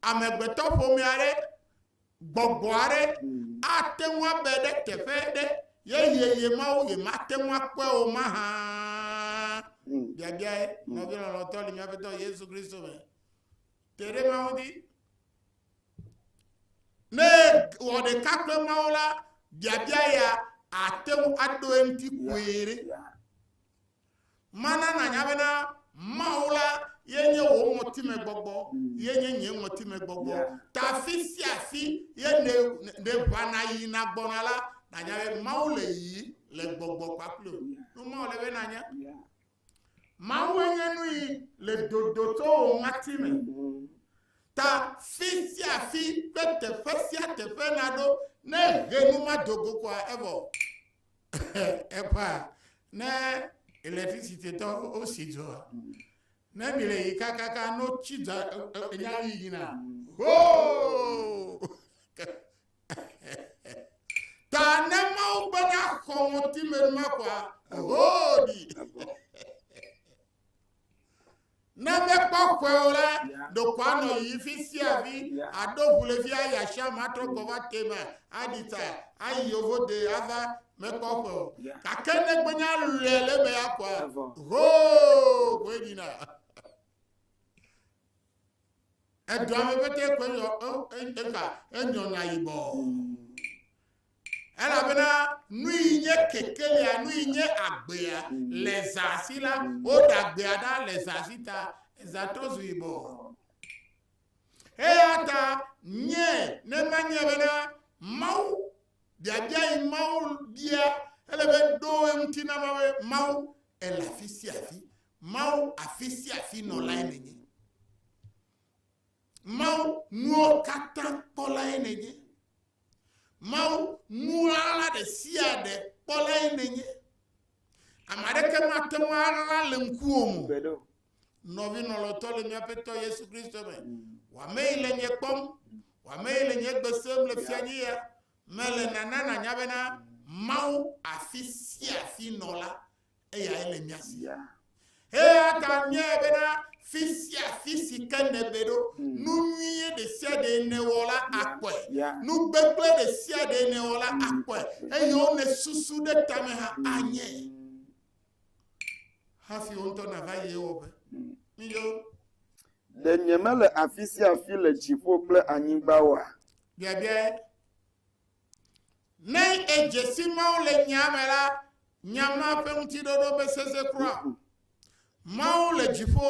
amegbetɔƒomea aɖe Gbɔgbɔ aɖe ate ŋu abe ɖe teƒe ɖe yeye ye mawo ye mate ŋu akpɔe o mahã. Biabiae, nɔvi lɔlɔtɔ li míaƒe tɔ Yesu Kristo me. Te ɖe mawo di. Ne wɔ ɖeka kple mawo la, biabia ya ate ŋu aɖo eŋuti kpuie ɖe. Mana nànya bena Mawu la ye nye wò ŋɔtimegbɔgbɔ, ye nye nye ŋɔtimegbɔgbɔ. Ta afi sia afi ye nèʋãna yina gbɔna la, nànya be Mawu le yi le gbɔgbɔ kpakple wò. Nu mawo le be nànya. Mawu nye nu yi le dodo tso wò ŋɔti me. Ta fi sia fi kple teƒe sia teƒe naɖo ne ʋe nu ma do go koa evɔ. eƒa ne electricity tɔ o si dzɔ ne mi le yi kakaka no tsi dza enya yi yina hoo ta ne mawu bena xɔ ŋuti me ma kɔa hoo di. Ne mekpɔ kɔe o la, ɖokoa nɔ yi fi sia fi aɖo ʋulevi ayi asia me atrɔ gbɔ va te me aɖi ta ayi yovo de ava mekpɔ kɔe o. Gake ne gbenya lɔe le eme ya kɔa, hoo koe nyina. Edɔa me pete koe nyɔ eka enyɔna yibɔ. Elabena nui nye kekelia, nui nye agbea, le zã si la, woɖa agbea ɖa le zã si ta, zã trɔ zu yibɔ. Eya ta nye ne manye bena Mawu, biabia yi Mawu bia, ele be ɖo eŋuti na Mawu, Mawu ele afi sia afi, Mawu afi sia afi nɔlae nenye. Mawu, nuwo katã kpɔlae nènye. Mawu, nu ɣaɣla ɖe sia ɖe kpɔlae nènye. Ame aɖeke mate ŋu aɣla le ŋkuwò me o. Nɔvi lɔlɔ̃tɔ le mía Aƒetɔ Yesu Kristo me, wò amee le nye kpɔm, wò amee le nye gbe sem le fianyia me le nana nànya bena Mawu afi sia afi nɔ la eyae le mía si. Eya ta míae bena fi sia fi si ke nèbe ɖo, nu nyuie ɖe sia ɖe nèwɔ la akpɔe, nu gbegblẽ ɖe sia ɖe nèwɔ la akpɔe, eye wo nèsusu ɖe tame hã anye. Hafi wo ŋutɔ nava yi ewɔƒe. Miyo. Ɖe nyemele afi sia afi le dziƒo kple anyigba oa? Biabiae. Ne edze si Mawu le nyaa me la, nya ma ƒe ŋutiɖoɖo mesesẽ kura o. Mawu le dziƒo,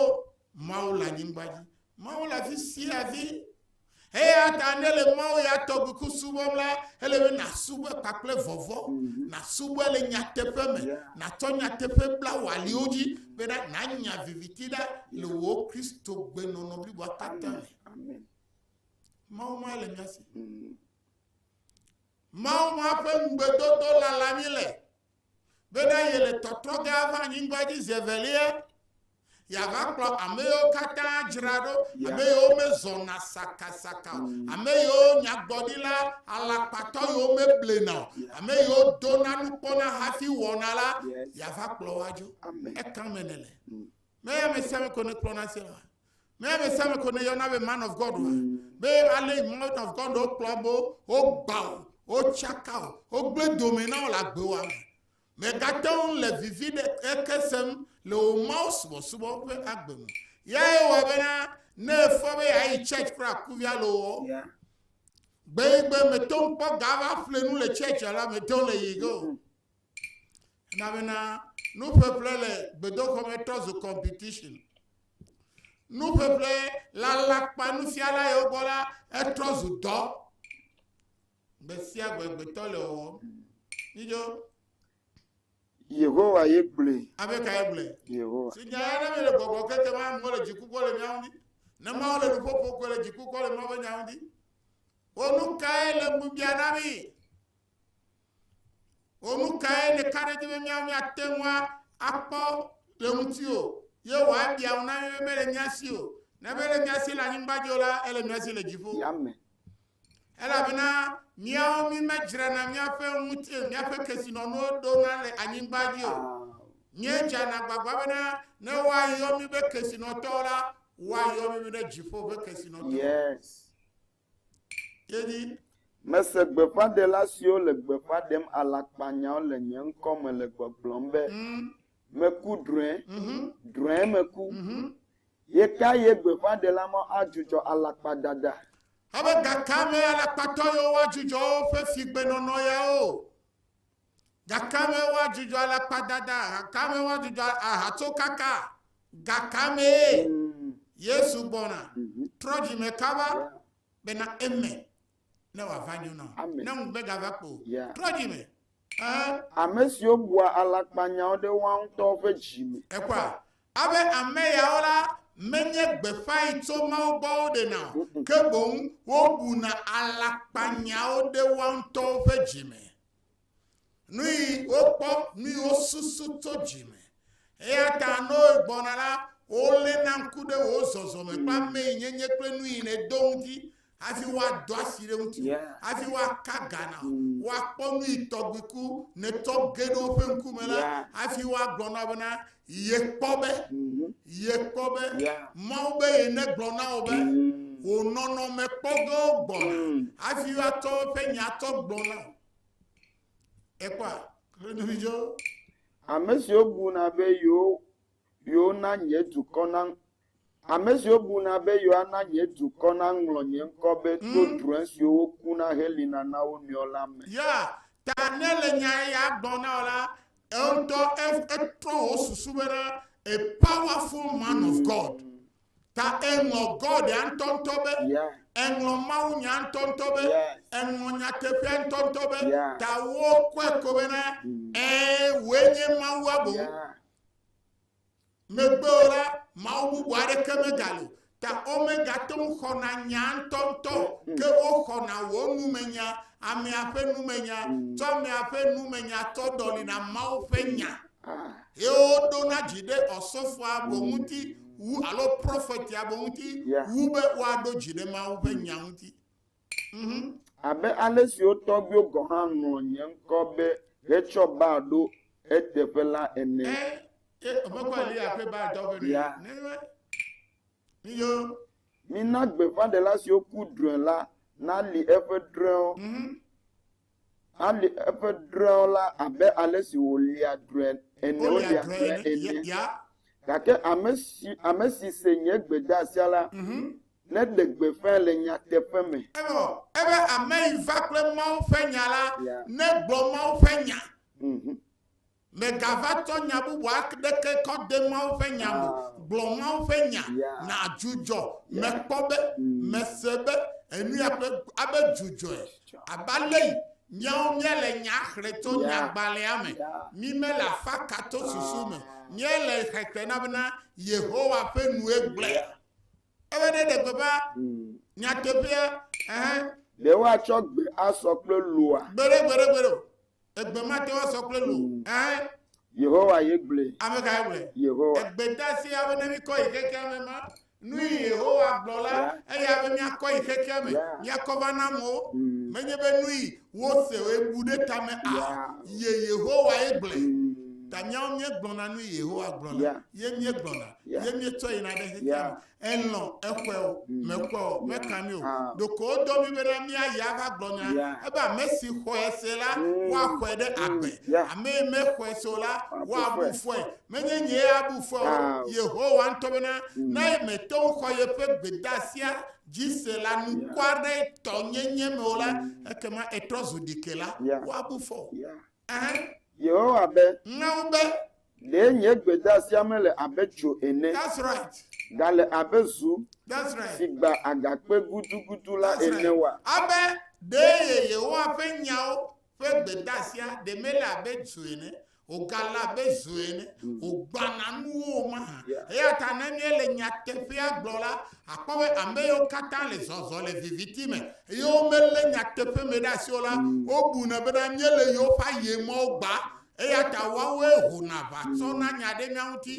Mawu le anyigba dzi, Mawu le afi sia afi. Eya ta ne le Mawu ya tɔgbi ku subɔm la, ele be nasubɔe kpakple vɔvɔ, mhm. nasubɔe le nyateƒe me, natsɔ nyateƒe bla wò aliwo dzi bena nanya viviti ɖa le wò Kristo gbenɔnɔ bliboa katã me. Mawu ma le mía si. Mhm. Mawu ma ƒe ŋugbedodo lala mí le bena yele tɔtrɔ ge ava anyigba dzi zi evelia yeava kplɔ ame yiwo katã dzra ɖo ame yiwo mezɔna sakasaka o ame yiwo nyagblɔɖila alakpatɔ yiwo meblena o ame yiwo dona nukpɔna hafi wɔna la yeava kplɔ woadzo ekame nele meyamesiame ko nekplɔna se la Mea be same ko ne yɔna be man of God wa. Be ale man of God wo kplɔ bo, wo gba o, wo tsaka o, wo gble dome na wo le agbe wa me. Me gate wo le vivi ɖe eke sem le wo mawo subɔ subɔ ƒe agbe me. Ya ye wɔ be na ne efɔ be ya yi church kura kuvia le wo. Gbe gbe me to kpɔ gava ƒle nu le church la me to le yi go. Na be na nuƒeƒle le gbedoxɔ me trɔ zu competition. Nuƒeƒle le alakpa nufiala yewo gbɔ la etrɔ zu dɔ. Gbe sia gbe gbetɔ le wɔwɔm. Yidzo. Yehowa ye gblɔe. Abe ka ye gblɔe? Yehowa. Si nya ya ne mi le gbɔgbɔ keke ma amewo le dziku kpɔ le miawo ŋu. Ne mawo le nuƒoƒo kɔ le dziku kpɔ le mawo ƒe nyawo ŋu. Wo nu kae le ŋubiã na mi? O nu kae ɖeka ɖe dzi be míate ŋu akpɔ le ŋuti o? Ye wòabia ŋu na mí be mele mía si o. Ne mele mía si le anyigba dzi o la, ele mía si le dziƒo. Elabena míawo mí medzrana míaƒe ŋuti míaƒe kesinɔnuwo ɖona le anyigba dzi o. Míedzana gbagba bena ne woayɔ mí be kesinɔtɔwo la, woayɔ mí be ɖe dziƒo ƒe kesinɔtɔ. Yes. Mese gbeƒãɖela siwo le gbeƒã ɖem alakpanyawo le nye ŋkɔ me le gbɔgblɔm be, Meku drɔ̃e! Drɔ̃e meku! Ɣekaɣie gbeƒãɖela mawo adzudzɔ alakpadada? Abe gakea mee alakpatɔ yiwo woadzudzɔ woƒe figbenɔnɔ yawo? Gakame woadzudzɔ alakpadada, gakame woadzudzɔ ahatsokaka, gakamee Yesu gbɔna. Trɔ dzime kaba bena eme ne wòava nyo na wò, ne ŋu megava kpo. Trɔ dzime. Ame siwo bua alakpanyawo ɖe woa ŋutɔ ƒe dzi me. Ekpɔa, abe ame yawo la menye gbeƒãe tso Mawu gbɔ woɖena o, ke boŋ wobuna alakpanyawo ɖe woa ŋutɔwo ƒe dzi me. Nui wokpɔ, nui wosusu to dzi me. Eya ta ne wogbɔna la, wolé na ŋku ɖe wò zɔzɔme kple ame yi nyenye kple nu yi nèdo ŋuti hafi woado asi ɖe ŋuti hafi woaka ga na wò. Mm. Woakpɔ nu yi tɔgbi ku nètɔ ge ɖe woƒe ŋkume la hafi woagblɔ na bena Yekpɔ be, mhm. yekpɔ be, Mawu be ye negblɔ na wò be, mm. wò nɔnɔme kpɔgɔ gbɔna, mm. hafi woatsɔ woƒe nya tsɔ gbɔ na wò. Ekpɔa, klonividzo. Ame siwo buna be yewo yewo na nye dukɔ na Ame siwo buna be yewoana nye dukɔ naŋlɔ nye ŋkɔ be tso mm. drɔ̃e siwo wokuna helĩna na wo nɔewo la me. Ya ta ne le nya ya gblɔ na wò la, eŋutɔ etrɔ wò susu be na a powerful man of mm. God. Ta eŋlɔ God ya ŋutɔŋutɔ be, eŋlɔ Mawu nya ŋutɔŋutɔ be, eŋlɔ nyateƒea ŋutɔŋutɔ be, ta wokɔe ko be na, mm. ee, wòe nye Mawua boŋ. Megbe o la, Mawu bubu aɖeke megali o, ta womegate ŋu xɔna nyaa ŋutɔŋutɔ o, ke woxɔna wò numenya, amea ƒe numenya, tsɔ amea ƒe numenya tsɔ ɖɔlina Mawu ƒe nya, eye woɖona dzi ɖe ɔsɔfoa boŋ ŋuti wu alo prɔfetia boŋ ŋuti wu be woaɖo dzi ɖe Mawu ƒe nya ŋuti. Abe ale si wo tɔgbuiwo gɔ̃ hã ŋlɔ nye ŋkɔ be hetsɔ Baal ɖo eteƒe la ene. Ya. Mina gbeƒãɖela siwo ku drɔ̃e la nali eƒe drɔ̃ewo. Alé eƒe drɔ̃ewo la abe ale si wòlia drɔ̃e ene, wolia drɔ̃e ene. Gake ame si, ame si se nye gbedeasia la, mhm. neɖe gbeƒãe le nyateƒe me. Evɔ, ebe ame yi va kple Mawu ƒe nya la, negblɔ Mawu ƒe nya. Mhm. Mègava tsɔ nya bubu aɖeke kɔ de Mawu ƒe nya me. Gblɔ Mawu ƒe nya. Nàdzudzɔ. Mekpɔ be, mese be, enuya ƒe abe dzudzɔe. Abe alei míawo míele nya xlẽ tso nyagbalẽa me. Mí mele afaka tso susu me. Míele xe te na bena Yehowa ƒe nue gblẽ. Ebe ne ɖe gbeƒã nyateƒea, ɛhɛ. Ɖe woatsɔ gbe asɔ kple loa? Gbeɖe, gbeɖe, gbeɖe o. Egbe ma te woasɔ kple lo. Ɛɛ. Yehowa ye gblɔe. Ame kae gblɔe? Yehowa. Egbe ta si ame ne mikɔ yi xexea me ma. Nu yi Yehowa gblɔ la, eya be miakɔ yi xexea me, miakɔ va na amewo. Mm. Menye be nu yi wose woe bu ɖe tame a. Ye Yehowa ye gblɔe. Mm. Ta miawo miegblɔna nu yi Yehowa gblɔ la, ye miegblɔna, ye mietsɔ yina ɖe xexea me. elɔ̃ exɔe o, mekpɔe o, meka mí o. Ɖeko wodɔ mí bena míayi ava gblɔ nya ebe ame si xɔe se la, woaxɔe ɖe agbe. Ame yi mexɔe se o la, woabu fɔe. Menye nyee abu fɔe o, Yehowa ŋutɔ bena ne mete ŋu xɔ yeƒe gbedeasia dzi se le anukware tɔ nyenye me o la, ekema etrɔ zu ɖikela, woabu fɔ. Yehowa be, Ɖe nye gbedasia mele abe dzo ene, gale abe zu si gba agakpe gudugudu la ene oa? Abe ɖee Yehowa ƒe nyawo ƒe gbedasia ɖe mele abe dzo ene, wògale abe zu ene, wògbana nuwo o mahã? Eya ta ne míele nyateƒea gblɔm la, Àkpɔ be ame yiwo katã le zɔzɔm le viviti me eye womelé nyateƒe me ɖe asi o la, wobuna bena míele yewo ƒe ayemɔwo gbã. Eya ta woawoe hona aʋa tsɔna nya ɖe mía ŋuti,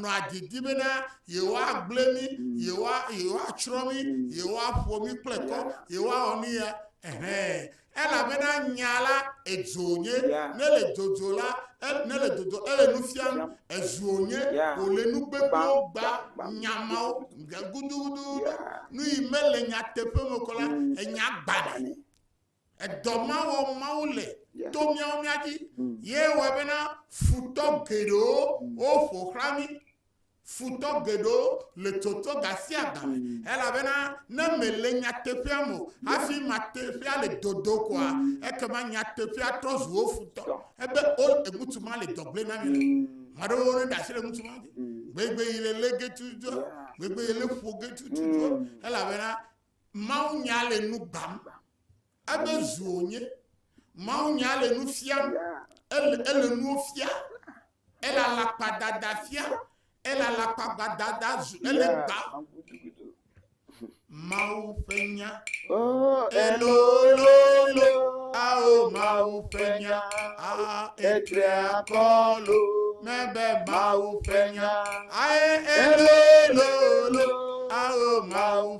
nɔa didi bena yewoagblẽ mí, yewoa, yewoatsrɔ̃ mí, yewoaƒo mí kple kɔ, yewoawɔ nu ya, ɛhɛ̃, Elabena nya la edzo nye, ne le dzodzo la, ne le dzodzo ele nu fiam, ezuo nye, wòle nu gbegbewo gba nya mawo nya gudugudu, nu yi mele nyateƒe me kɔ la, mm. enya gbanɛ. Edɔ ma wɔ Mawu le to míawo mía dzi, mm. ye wɔ bena futɔ geɖewo mm. woƒo xlã mí. Futɔ geɖewo le tsɔtsɔ gasiagame elabena ne mèle nyateƒea me o hafi mateƒea le dodo koa, ekema nyateƒea trɔ zu wo futɔ. Ebe o ŋutsu ma le dɔgble na mi le. Maɖewo ne ɖe asi le ŋutsu ma dzi. Gbegbe yi le le getu dzɔ, gbegbe yi le ƒo getu dzɔ, elabena Mawu nya le nu gbam. Ebe zu wònye. Mawunya le nu fiam, ele, ele nuwo fia, ele alakpadada fia, ele alakpagbadada zu, ele gba. Mawu ƒe nya. Oh, elololo, ao Mawu ƒe nya, a etre akɔlo, mebe Mawu ƒe nya, ae elololo, ao Mawu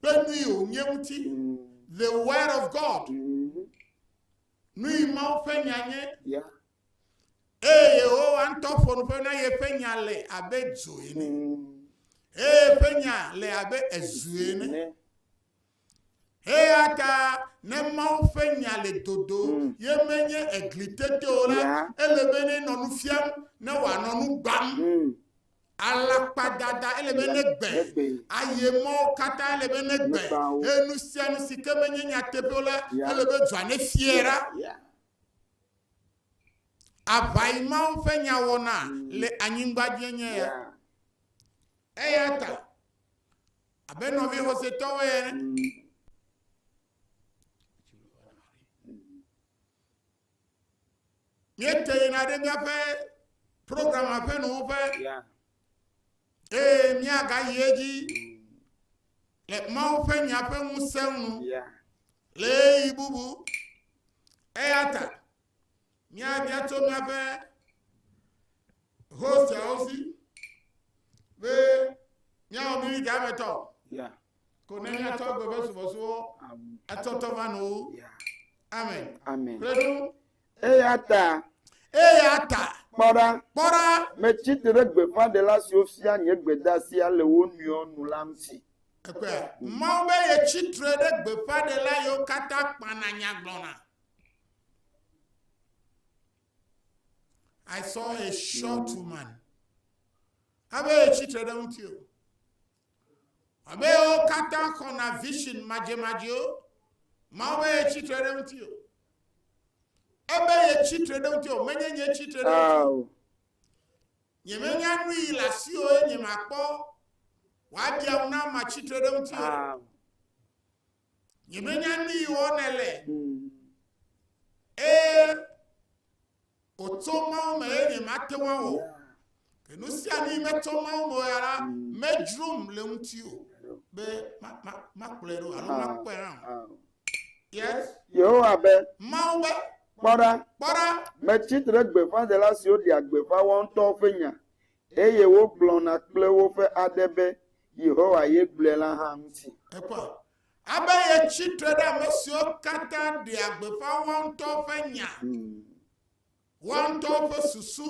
Kpe nui o nye ŋuti. The word of God. Nui Mawu ƒe nya nye. Eye Yehowa ŋutɔ ƒo nuƒe na yeƒe nya le abe dzo ene. Eye ƒe nya le abe ezu ene. Eya ta ne Mawu ƒe nya le dodo mm. ye menye egli tete o la, ele be ne nɔ nu fiam ne wòanɔ nu gbam. Mm. Alakpadada ele be negbe, aye mɔwo katã ele be negbe, eye nu sia nu si ke menye nyateƒeo la, ele be dua ne fie ra. Aʋayi mawo ƒe nyawɔna le anyigba dzi enye ya. Eya ta, abe nɔvi xɔsetɔwo ene. Míete yina ɖe míaƒe program ƒe nuwuƒe eye míagayi edzi le Mawu ƒe nya ƒe ŋusẽ nu le ɣeyiɣi bubu. Eya ta míabia tso míaƒe hostiawo si be míawɔ mí ɖe ametɔ. Ko ne mia tɔ agbe be subɔsubɔ atɔtɔ va no. Amen. Amen. Kple ɖo. Eya ta. Eya ta. Kpɔ ɖa. Kpɔ ɖa. Metsi te ɖe gbeƒãɖela siwo fia nye gbedasia le wo nɔewo nu la ŋuti. Ekpea. Mawu be ye tsi tre ɖe gbeƒãɖela yiwo katã kpana nya gblɔna. I saw a short woman. Abe ye tsi tre ɖe ŋuti o. Ame yawo katã xɔna vision madzemadzeo. Mawu be ye tsitre ɖe ŋuti o. Ebe ye tsitre ɖe ŋuti o, menye nye tsitre ɖe ŋuti o. Nyemenya nu yi le asi o eye nyemakpɔ wòaɖi awu na matsitre ɖe ŋuti o. Nyemenya nu yi wɔm nèle. Eye wòtso Mawu me eye nyemate ŋu awɔ. Ke nu sia nu yi metso Mawu me ya la, medzrom le ŋuti o be makplɔe ɖo alo makpɔe hã o. Yes. Yehowa be. Mawu be. Kpɔ ɖa. Kpɔ ɖa. Metsi tre gbeƒãɖela siwo ɖea gbeƒã woawo ŋutɔwo ƒe nya. Eye wogblɔna kple woƒe aɖe be, Yehowa ye gblɔe la hã ŋuti. Ekpɔ abe yetsi tre ɖe ame siwo katã ɖea gbeƒã woa ŋutɔ ƒe nya, woa ŋutɔ ƒe susu,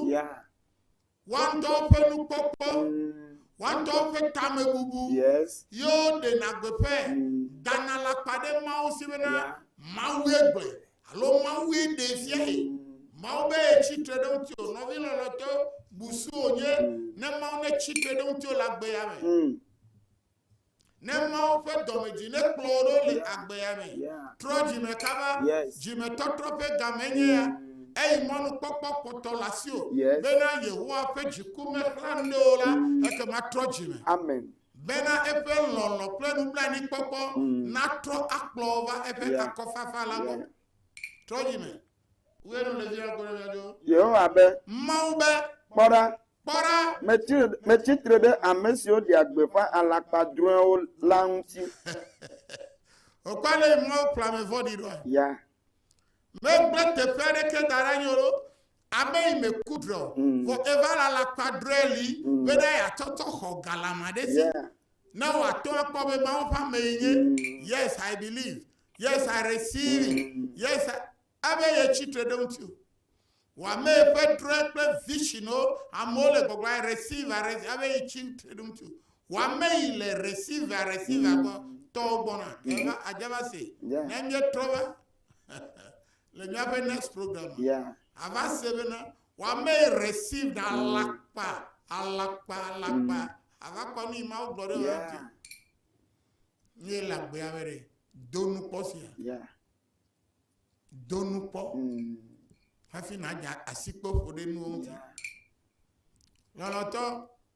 woa ŋutɔ ƒe nukpɔkpɔ, woa ŋutɔ ƒe tamebubu, ye woɖena gbeƒãe, dana alakpa ɖe Mawu si bena, Mawue gblɔe. Alo Mawue ɖee fiae. Mawu be yetsi tre ɖe ŋutiwò, nɔvi lɔlɔ̃tɔ busu wònye ne Mawu netsi tre ɖe ŋutiwò le agbeya me. Hmm. Ne Mawu ƒe dɔmedzoe nekplɔ wò ɖo le agbeya me. Trɔ dzime kaba, dzimetɔtrɔ ƒe game nye ya. Hmm. Eyi mɔnukpɔkpɔ kpɔtɔ le asiwò bena Yehowa ƒe dziku mexlã nu ɖe wò la, ekema trɔ dzime. Amen. Bena eƒe lɔlɔ̃ kple nublanuikpɔkpɔ natrɔ akplɔ wo va eƒe akɔfafa la gbɔ. Trɔ dzi me. Wue nu le dzi ɖa kple ɖo. Yehowa be. Mawu be. Kpɔ ɖa. Kpɔ ɖa. Metsi, metsi tre ɖe ame siwo ɖea gbeƒã alakpa drɔ̃ewo la ŋuti. Wòkpɔ ale yi Mawu kplɔ ame vɔ̃ɖi ɖoa? Ya. Megble teƒe aɖeke da ɖe anyi o ɖo. Ame yi me ku drɔ, vɔ eva le alakpa drɔɛ li bena ya tsɔ tsɔ xɔ galama ɖe si. Ne wa tɔ a kpɔ be Mawu ƒe ame yi nye, yes I believe, yes I receive it, yes I, ebe ye tsi tre ɖe eŋuti o. Wa me ƒe drɔɛ kple vision wo, amewo le gbɔgblɔ I receive, I receive, ebe yi tsi tre ɖe eŋuti o. Wa me yi le receive, I receive, agbɔ, tɔwo gbɔna, eva, adjava se, ne mie trɔ va. Le míaƒe next program me, yeah. ava se bena wame received alakpa, alakpa, alakpa, mm. ava kpɔ nu yi ma wogblɔ ɖe yeah. wati. Nye le agbea me ɖe, do nu kpɔ sia. Yeah. Do nu kpɔ. Mm. Hafi na dza asikpe ƒo ɖe nuwo ŋuti. Yeah. Lɔlɔtɔ.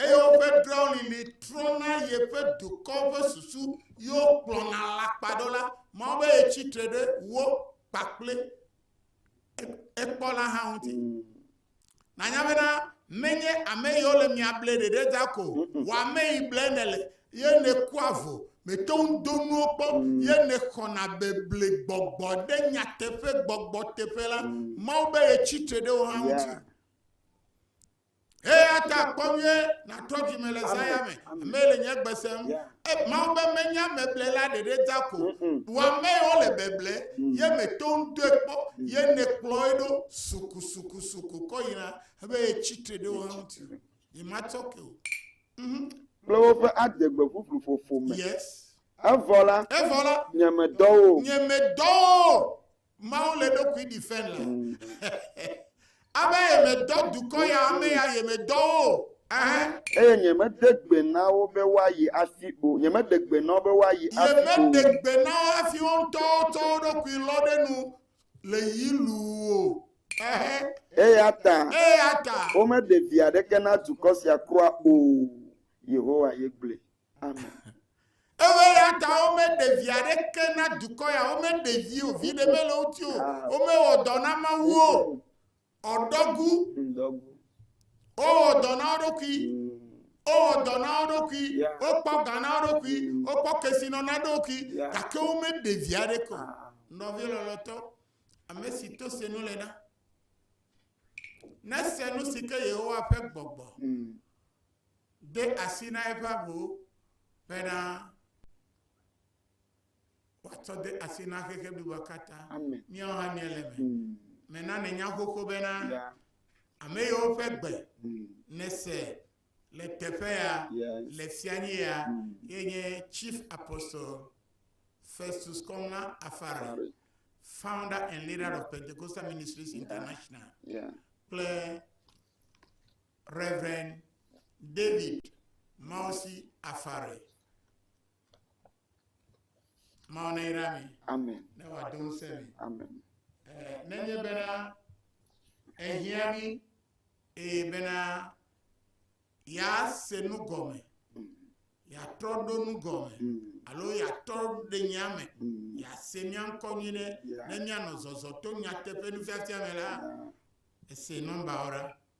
Eye woƒe draulili trɔna yeƒe dukɔ ƒe susu, ye wokplɔna alakpa ɖo la, Mawu be yetsi tre ɖe wo kpakple ekpɔla hã ŋuti. Nanya bena menye ame yiwo le mia ble ɖeɖe da ko wɔ ame yi ble nèle, ye nèkua vo, mète ŋu do nuwo kpɔ, ye nèxɔna beble gbɔgbɔ ɖe nyateƒe gbɔgbɔ teƒe la, Mawu be yetsi tre ɖe wo hã ŋuti. Eya ta kpɔ vie natrɔ dzime le zaya me. Ame le nye gbe sem. E, Mawu be menye ameble la ɖeɖe da ko. Bu ame yi wole beble ye me to ŋutɔe kpɔ ye nekplɔ ye ɖo sukusukusuku kɔ yina ebe ye tsitre ɖe wo hã ŋuti. Ye matsɔ ke o. Mhm. Kple woƒe adegbe ʋuʋlu ƒoƒo me. Yes. Evɔ la, Evɔ la, nye medɔ wo. nye medɔ wo. Mawu le ɖokui ɖi fɛn la. Abe yemedɔ dukɔ ya, ame ya yemedɔ wo o. Ɛhɛn. Eye nyemeɖe gbe na wo be woayi hafi o. Nyemeɖe gbe na wo be woayi hafi o. Nyemeɖe gbe na wo hafi wo ŋutɔwo tsɔ wo ɖokui lɔ ɖe nu le yi luu o. Ɛhɛn. Eyata. Eyata. Womeɖe vi aɖeke na dukɔ sia kura o. Yehowa ye gblɔe. Amen. Eyata womeɖe vi aɖeke na dukɔ ya, womeɖe vi o, vi ɖe mele wo ti o, womewɔ dɔ na Mawu o, ɔdɔgu, wowɔ dɔ na wo ɖokui, wowɔ dɔ na wo ɖokui, wokpɔ ga na wo ɖokui, wokpɔ kesinɔ na ɖokui, gake womeɖe vi aɖeke o. Nɔvi lɔlɔtɔ, ame si to se nu le na, nese nu si ke Yehowa ƒe gbɔgbɔ. Mm. de asi na eƒe avu bena wòatsɔ de asi na xexe bliboa katã. Míawo hã míele eme. Hmm. Mena nènya xoxo bena ame yiwo ƒe gbe hmm. nèse le teƒe ya le fianyi ya hmm. ye nye Chief Apostle Festus Kɔŋa Afari, founder and leader of Pentecostal Ministries International. Kple Rev. David Mawusi Afare. Mawu neyra mi. Amen. Ne wòado ŋusẽ mi. Amen. Eh, nenye bena ehiã mi eye bena yease nu gɔme yeatrɔ ɖo nu gɔme mm. alo yeatrɔ ɖe nya me mm. yease mía ŋkɔ nyui ɖe ne míanɔ zɔzɔ to nyateƒe nufiafia me la ese nɔmbawo ɖa